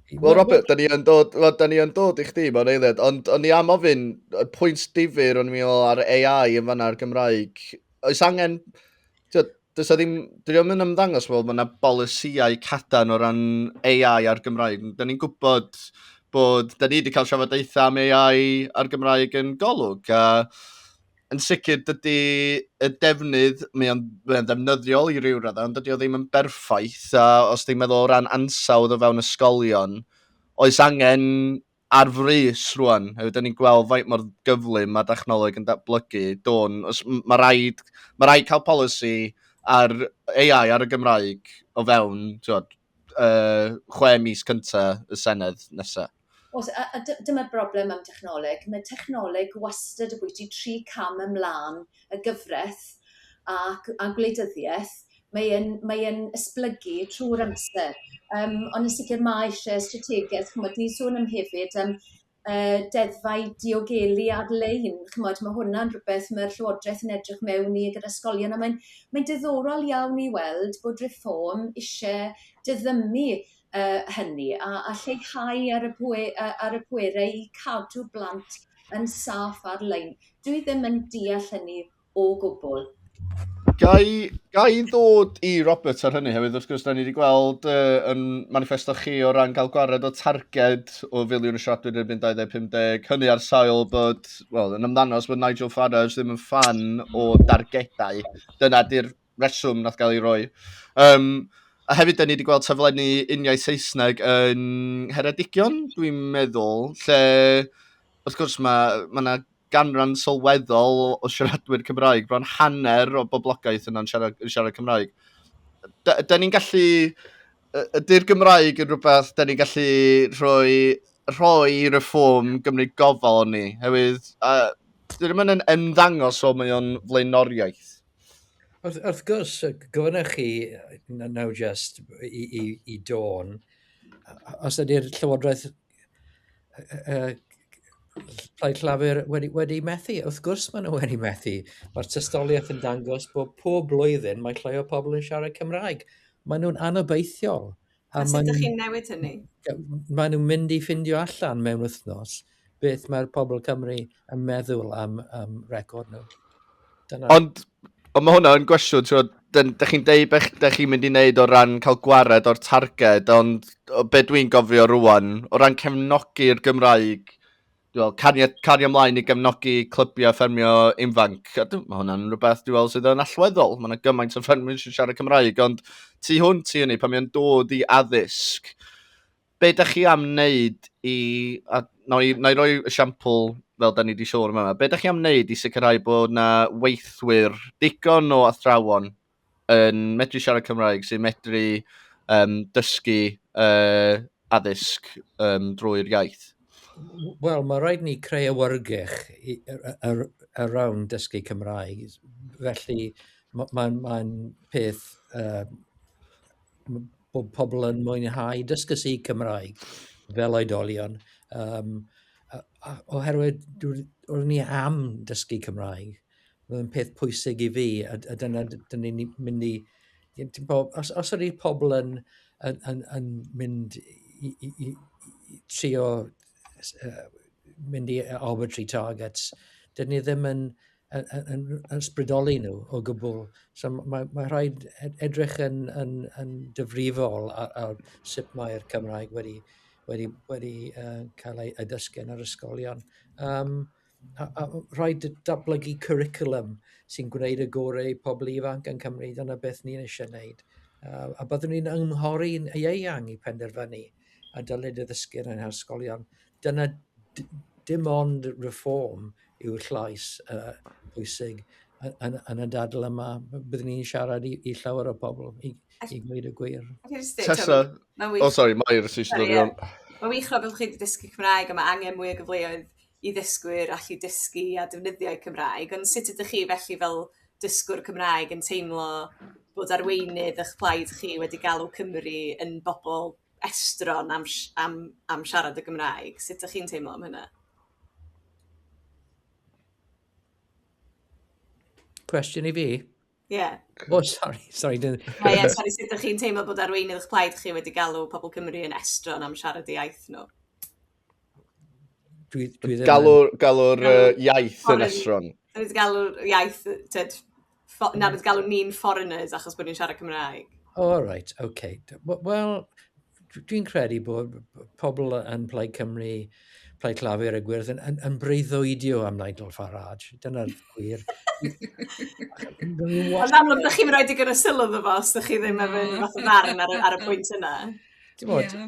Wel Robert, da ni yn dod, well, da ni yn dod i chdi mewn eiliad, ond o'n i am ofyn, y pwynt difyr o'n i'n meddwl ar AI yn fanna ar Gymraeg, oes angen, Does ddim, dwi ddim yn ymddangos fel mae yna bolisïau cadan o ran AI a'r Gymraeg. Da ni'n gwybod bod, da ni wedi cael trafodaethau am AI a'r Gymraeg yn golwg, a yn sicr dydy y defnydd, mae o'n, mae o'n ddefnyddiol i ryw raddau, ond dydy o ddim yn berffaith, a os ti'n meddwl o ran ansawdd o fewn ysgolion, oes angen ar frys rwan, hefyd da ni'n gweld faint mor gyflym mae dechnoleg yn datblygu, dôn, os mae rhaid, mae rhaid cael polisi ar AI ar y Gymraeg o fewn, tiwod, uh, chwe mis cynta y Senedd nesaf. Os, a, a dyma'r broblem am dechnoleg, mae technoleg wastad y bwyty tri cam ymlaen y gyfraith a, a gwleidyddiaeth, mae yn mae yn esblygu trw'r amser yym ond yn sicir mae eisie strategaeth ch'mod ni'n sôn am hefyd yym yy deddfau diogelu ar-lein ch'mod ma' hwnna'n rwbeth ma'r llywodreth yn edrych mewn i gyda ysgolion a mae'n mae'n diddorol iawn i weld bod Reform isie diddymu yy hynny a a lleihau ar y pwe- yy ar y pwerau i cadw blant yn saff ar-lein. Dwi ddim yn deall hynny o gwbl. Gai, gai ddod i Robert ar hynny hefyd, wrth gwrs, da ni wedi gweld uh, yn manifesto chi o ran cael gwared o targed o filiwn y siaradwyr erbyn 2050, hynny ar sail bod, wel, yn ymddangos bod Nigel Farage ddim yn fan o dargedau. Dyna di'r reswm nath gael ei roi. Um, a hefyd, da ni wedi gweld taflenni uniaith Saesneg yn Heredigion, dwi'n meddwl, lle, wrth gwrs, mae ma yna ganran sylweddol o siaradwyr Cymraeg, bron hanner o boblogaeth yna'n siarad, siarad Cymraeg. Da, da ni'n gallu... Ydy'r Gymraeg yn rhywbeth da ni'n gallu rhoi, rhoi reform gymryd gofal o'n ni, hefyd, a, dyn nhw'n ymddangos o mae o'n flaenoriaeth. Wrth, wrth gwrs, gofynnoch chi nawr just i, i, i Dawn, os ydy'r Llywodraeth uh, Plaid Llafur wedi, wedi methu. Wrth gwrs maen nhw wedi methu. Mae'r tystoliaeth yn dangos bod pob blwyddyn mae llai o pobl yn siarad Cymraeg. Maen nhw'n anobeithiol. A, a sut ydych chi'n newid hynny? Maen nhw'n mynd i ffindio allan mewn wythnos beth mae'r pobl Cymru yn meddwl am, am record nhw. Dyna. Ond, ond mae hwnna'n gwestiwn, ti'n da chi'n deud beth da chi'n mynd i wneud o ran cael gwared o'r targed, ond be dwi'n gofio rwan, o ran cefnogi'r Gymraeg, well, cario, cario ymlaen i gefnogi clybiau ffermio infanc. Mae hwnna'n rhywbeth dwi'n meddwl sydd yn allweddol. Mae yna gymaint o ffermwyr sy'n siarad Cymraeg, ond tu hwnt i hynny, pan mae'n dod i addysg, be da chi am wneud i... A, na, i, na i roi esiampl fel da ni wedi sôn yma, be da chi am wneud i sicrhau bod yna weithwyr digon o athrawon yn medru siarad Cymraeg, sy'n medru um, dysgu uh, addysg um, drwy'r iaith? Wel, mae rhaid ni creu awyrgych around dysgu Cymraeg. Felly, mae'n ma, ma peth uh, bod pobl yn mwynhau dysgu si Cymraeg fel oedolion. Um, oherwydd, oedden ni am dysgu Cymraeg. Mae'n peth pwysig i fi, a, a dyna dyn ni'n mynd i... Os, os ydy pobl yn, yn, yn, yn mynd i, i, i, i trio uh, mynd i arbitrary targets, dyn ni ddim yn, yn, yn, yn sbrydoli nhw o gwbl. So mae, mae rhaid e-, edrych yn, yn, yn dyfrifol ar, ar sut mae'r Cymraeg wedi, wedi, wedi uh, cael ei, ei ddysgu yn yr ysgolion. Um, a, a rhaid datblygu cwricwlwm sy'n gwneud y gorau i pobl ifanc yn Cymru, dyna beth ni'n eisiau gwneud. Uh, a byddwn ni'n ymghori'n ieuang i penderfynu a dylid y ddysgwyr yn yr ysgolion. Dyna dim ond reform yw llais uh, bwysig yn, yn y dadl yma. Byddwn ni'n siarad i, i llawer o bobl, i, i gwneud y gwir. Tessa, oh sorry, Mair, sy'n siarad o'n... Mae'n wych rhaid bod chi wedi dysgu Cymraeg a mae angen mwy o gyfleoedd i ddysgwyr allu dysgu a defnyddio'u Cymraeg, ond sut ydych chi felly fel dysgwr Cymraeg yn teimlo bod arweinydd ych plaid chi wedi galw Cymru yn bobl estron am sh- am am siarad y Gymraeg? Sut dych chi'n teimlo am hynna? Cwestiwn i fi? Ie. O, sori, sori. Ie, ie, sori, sut ydych chi'n teimlo bod arweinydd eich plaid chi wedi galw pobl Cymru yn estron am siarad i iaith nhw? Dwi, dwi ddim... Galw'r galw uh, iaith yn estron. Dwi wedi galw'r iaith, tyd, na, wedi galw ni'n foreigners achos bod ni'n siarad Cymraeg. Oh, all right, okay. Wel, dwi'n credu bod pobl yn Plaid Cymru, Plaid Clafur a Gwyrdd yn, yn, yn breuddwydio am Nigel Farage. Dyna'r gwir. Ond amlwg, ydych chi'n rhoi digon o sylw fy fo, os ydych chi ddim efo yn fath o ddarn ar, ar y pwynt yna. Bod... Yeah.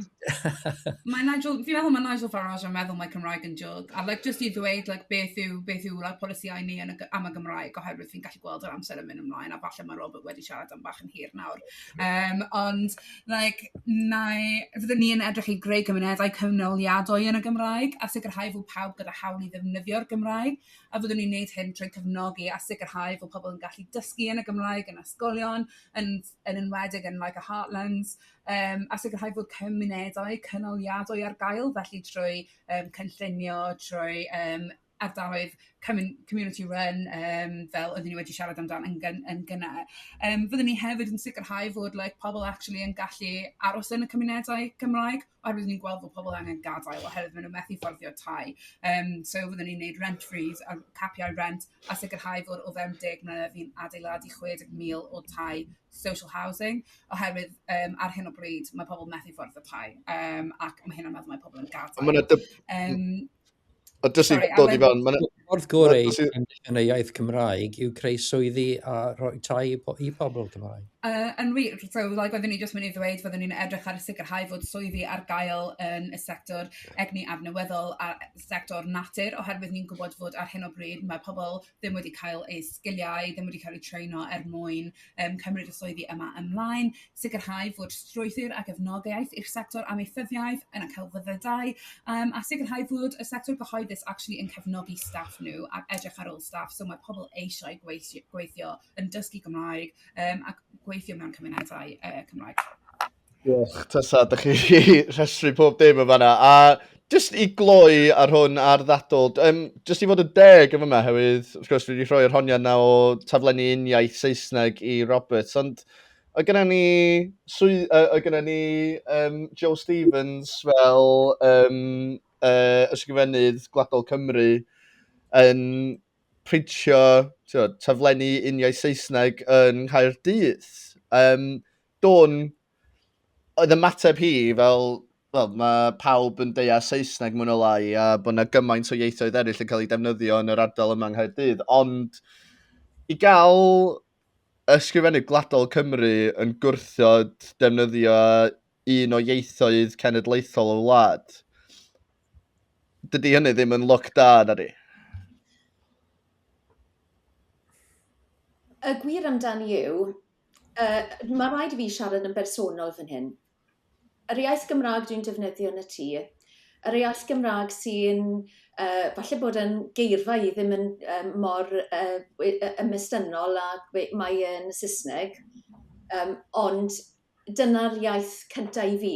mae Nigel, fi'n meddwl mae Nigel Farage yn meddwl mae Cymraeg yn jog. A like, just i ddweud like, beth yw, beth yw like, polisiau ni yn y, am y Gymraeg, oherwydd fi'n gallu gweld yr amser yn mynd ymlaen, a falle mae Robert wedi siarad am bach yn hir nawr. Um, ond like nai... Fyddwn ni yn edrych i greu cymunedau cyfnewidiadwy yn y Gymraeg a sicrhau fod pawb gyda hawl i ddefnyddio'r Gymraeg, a fyddwn ni'n neud hyn trwy cefnogi a sicrhau fod pobl yn gallu dysgu yn y Gymraeg yn ysgolion, yn yn enwedig yn like y heartlands, yym a sicrhau fod cymunedau cynaliadwy ar gael, felly trwy yym cynllunio, trwy yym ardaloedd comin- community run yym fel oedden ni wedi siarad amdan yn gyn- yn gynne. Yym fyddwn ni hefyd yn sicrhau fod like pobl actually yn gallu aros yn y cymunedau Cymraeg oherwydd ni'n gweld bod pobl angen gadael oherwydd maen nhw'n methu fforddio tai. Um, so fyddwn ni'n gwneud rent freeze a capiau rent a sicrhau fod o fewn deg mlynedd fi'n adeiladu 60,000 o tai social housing oherwydd um, ar hyn o bryd mae pobl methu fforddio tai um, ac mae hyn yn meddwl mae pobl yn gadael. Mae yna dyb... um, Ond dys i'n dod i fewn... Wrth gorau yn y iaith Cymraeg yw creu swyddi a rhoi tai i pobl Cymraeg. Uh, yn wir, so like, oeddwn i jyst mynd i ddweud fyddwn ni'n edrych ar sicrhau fod swyddi ar gael yn y sector egni adnewyddol a sector natur, oherwydd ni'n gwybod fod ar hyn o bryd mae pobl ddim wedi cael eu sgiliau, ddim wedi cael eu treino er mwyn um, cymryd y swyddi yma ymlaen, sicrhau fod strwythur a gefnogaeth i'r sector amaethyddiaeth yn y celfyddydau, um, a sicrhau fod y sector gyhoeddus actually yn cefnogi staff nhw ac edrych ar ôl staff. So mae pobl eisiau gweithio, gweithio yn dysgu Gymraeg um, ac gweithio mewn cymunedau uh, Cymraeg. Diolch, tasa, da chi rhestru pob dim yn fanna. A jyst i gloi ar hwn ar ddadl, um, jyst i fod yn deg yn fyma, hefyd, wrth gwrs, dwi wedi rhoi yr honiad na o taflenni uniaith Saesneg i Roberts, ond o gyda ni, swy, uh, o gyda ni um, Joe Stevens fel um, uh, ysgrifennydd Gwladol Cymru yn printio tio, taflenni uniaith Saesneg yn Nghaerdydd. Um, Dwn, oedd ymateb hi fel, wel, mae pawb yn deall Saesneg mwyn o lai a bod yna gymaint o ieithoedd eraill yn cael ei defnyddio yn yr ardal yma yng Nghaerdydd, ond i gael ysgrifennydd gwladol Cymru yn gwrthod defnyddio un o ieithoedd cenedlaethol y wlad, dydy hynny ddim yn look da na di. Y gwir amdani yw, Yy ma' raid i fi siarad yn bersonol fan hyn. Yr iaith Gymra'g dwi'n defnyddio yn y tŷ, yr iaith Gymra'g sy'n yy falle bod yn geirfa i ddim yn yym mor yy we- yy ymestynnol a we- mae yn y Sysneg yym ond dyna'r iaith cynta' i fi.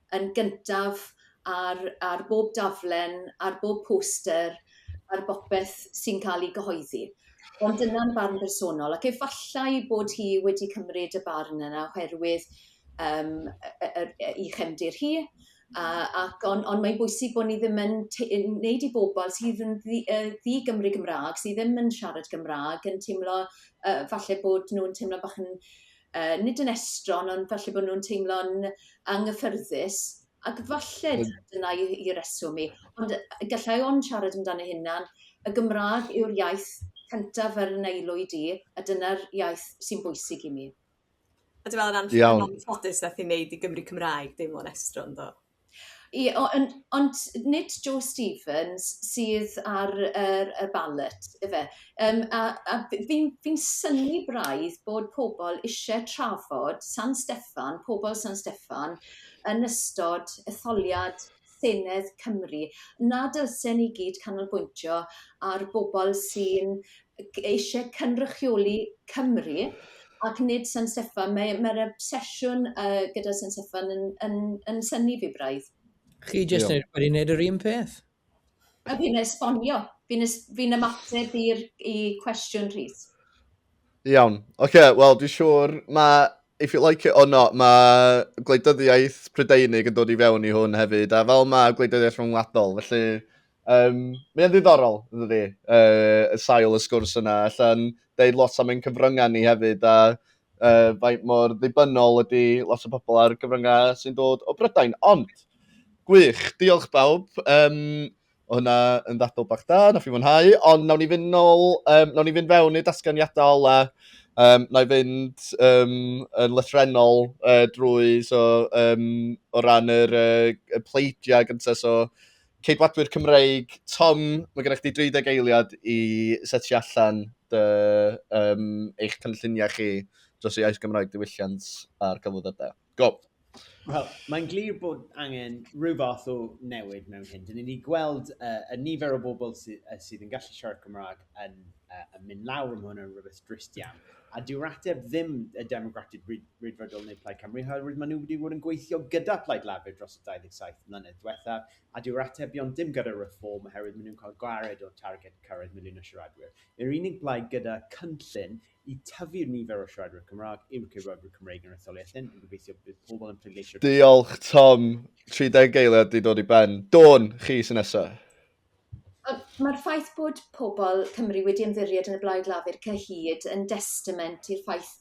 yn gyntaf ar ar bob daflen, ar bob poster, ar bopeth sy'n ca'l 'i gyhoeddi. Ond dyna'n barn bersonol ac efallai bod hi wedi cymryd y barn yna oherwydd yym y y yr yy 'i chefndir hi a ac on' on' mae'n bwysig bo' ni ddim yn t- yy neud i bobol sydd yn ddi- yy ddi-Gymru Gymra'g sy ddim yn siarad Cymra'g yn timlo yy falle bod nw'n timlo bach yn yy nid yn estron ond falle bo' nw'n teimlo'n anghyffyrddus ac falle dyna i- i- i'r reswm i ond yy yy gallai ond siarad amdani hunan y Gymra'g yw'r iaith cyntaf ar 'yn aelwyd i a dyna'r iaith sy'n bwysig i mi. A dwi me'wl o ran... Iawn. ...ffodus nath 'i neud i Gymry Cymraeg deimlo'n estron do? Ie, o- yn- ond nid Joe Stevens sydd ar yr y ballot ife? Yym a a f- fi'n fi'n synnu braidd bod pobl isie trafod San Steffan, pobl San Steffan, yn ystod etholiad Senedd Cymru. Na dylsen ni gyd canolbwyntio ar bobl sy'n eisiau cynrychioli Cymru ac nid San Steffan. Mae, mae'r obsesiwn uh, gyda San Steffan yn, yn, yn syni fi braidd. Chi jyst yn wedi gwneud yr un peth. A fi'n esbonio. Fi'n fi ymateb i'r i cwestiwn Rhys. Iawn. Oce, okay, wel, dwi'n siŵr mae if you like it or not, mae gwleidyddiaeth Prydeinig yn dod i fewn i hwn hefyd, a fel mae gwleidyddiaeth rhyngwladol, felly Um, mae'n ddiddorol, dwi, uh, y sail y sgwrs yna. Allan deud lot am ein cyfryngau ni hefyd, a uh, faint mor ddibynnol ydy lot o bobl ar gyfryngau sy'n dod o Brydain. Ond, gwych, diolch bawb. Um, o hynna yn ddadl bach da, na fi mwynhau, ond nawn ni fynd nôl, um, nawn ni fynd fewn i dasganiadau ola, um, na i fynd um, yn lythrenol uh, drwy, so, um, o ran yr uh, pleidiau gyntaf, so, Ceidwadwyr Cymreig, Tom, mae gennych chi 30 eiliad i setio allan dy, um, eich cynlluniau chi dros y iaith Gymraeg diwylliant a'r cyflwyddydau. Go! Wel, mae'n glir bod angen rhyw fath o newid mewn hyn. Dyn ni wedi gweld uh, y nifer o bobl sydd, uh, sydd yn gallu siarad Cymraeg yn, uh, yn mynd lawr, mae hwn yn rhywbeth drist iawn. A dyw'r ateb ddim y Democratic Rydfrydol neu Plaid Cymru, oherwydd maen nhw wedi bod yn gweithio gyda Plaid Lafur dros y 27 mlynedd diwethaf, a dyw'r atebion dim gyda reform oherwydd maen nhw'n cael gwared o targed cyrraedd miliwn o siaradwyr. Yr unig blaid gyda cynllun i tyfu'r nifer o siaradwyr Cymraeg yw'r cyfrifwyr Cymreig yn yr etholiad hyn, yn gobeithio bydd pobl yn pleidleisio... Diolch Tom, 30 eiliad di dod i ben. Dawn, chi sy'n nesaf. Yy ma'r ffaith bod pobol Cymru wedi ymddiried yn y Blaid Lafur cyhyd yn destament i'r ffaith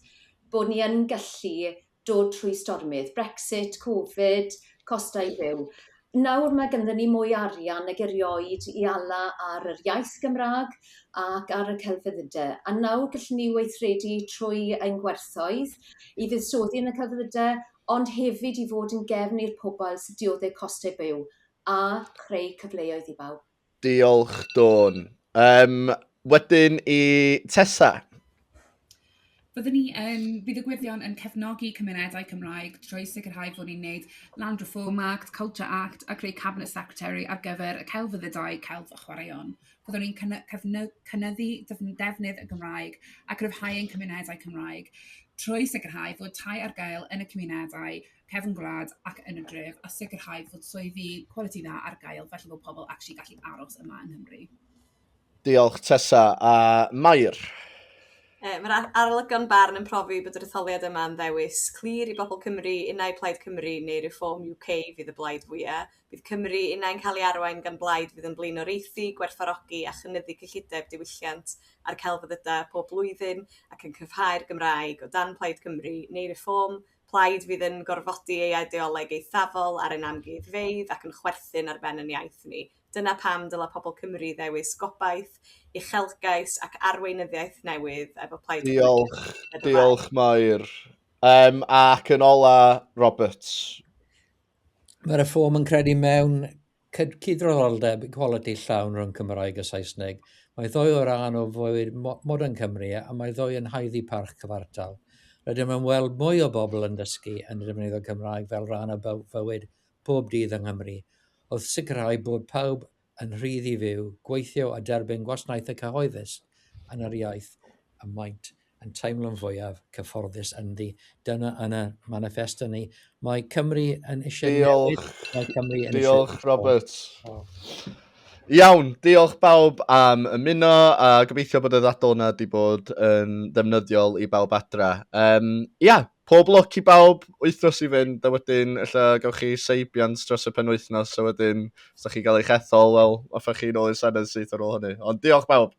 bo' ni yn gallu dod trwy stormydd, Brexit, Covid, costau byw. Nawr ma' ganddo ni mwy o arian nag erioed i ala ar yr iaith Gymra'g ac ar y celfyddyde a nawr gellwn ni weithredu trwy ein gwerthoedd i fuddsoddi yn y celfyddyde ond hefyd i fod yn gefn i'r pobol sy'n diodde' coste byw a chreu cyfleoedd i bawb. Diolch, Dawn. Um, wedyn i Tessa. Byddwn ni yn fuddugwyddion yn cefnogi cymunedau Cymraeg trwy sicrhau bod ni'n gwneud Land Reform Act, Culture Act a creu Cabinet Secretary ar gyfer y celfyddydau, celf a chwaraeon. Byddwn ni'n cynnyddu defnydd y Gymraeg a gryfhau ein cymunedau Cymraeg trwy sicrhau fod tai ar gael yn y cymunedau cefn gwlad ac yn y dref a sicrhau fod swyddi quality dda ar gael felly bod pobl actually gallu aros yma yng Nghymru. Diolch Tessa a Mair. E, Mae'r arolygon barn yn profi bod yr etholiad yma yn ddewis clir i bobl Cymru, unau Plaid Cymru neu Reform UK fydd y blaid fwyaf. Bydd Cymru unau'n cael ei arwain gan blaid fydd yn blin oreithi, gwerthfarogi a chynyddu cyllideb diwylliant a'r celfyddydau pob blwyddyn ac yn cryfhau'r Gymraeg o dan Plaid Cymru neu Reform Plaid fydd yn gorfodi ei eideoleg eithafol ar ein amgueddfeydd ac yn chwerthin ar ben yn iaith ni. Dyna pam dylai pobl Cymru ddewis gobaith, uchelgais ac arweinyddiaeth newydd efo Plaid Cymru. Diolch, diolch Mair. Um, ac yn ola, Roberts. Mae Reform yn credu mewn cydraddoldeb, equality, llawn rhwng Cymraeg a Saesneg. Mae ddou o ran o fywyd modern Cymru a mae ddou yn haeddu parch cyfartal. Rydym yn weld mwy o bobl yn dysgu yn defnyddio Cymraeg fel rhan o fywyd pob dydd yng Nghymru, wrth sicrhau bod pawb yn rhydd i fyw, gweithio a derbyn gwasnaethau cyhoeddus yn yr iaith y maent yn teimlo'n fwyaf cyfforddus ynddi. Dyna yn y manifesto ni. Mae Cymru yn eisiau newid. Mae Cymru yn diolch, eisiau... Robert. Oh. Iawn, diolch bawb am ymuno a gobeithio bod y ddadl yna wedi bod yn ddefnyddiol i bawb adra. Um, ia, pob lwc i bawb wythnos i fynd a wedyn illa gawch chi seibiant dros y penwythnos a wedyn os da chi gael eich ethol, wel, offa chi'n ôl i'r Senedd syth ar ôl hynny. Ond diolch bawb!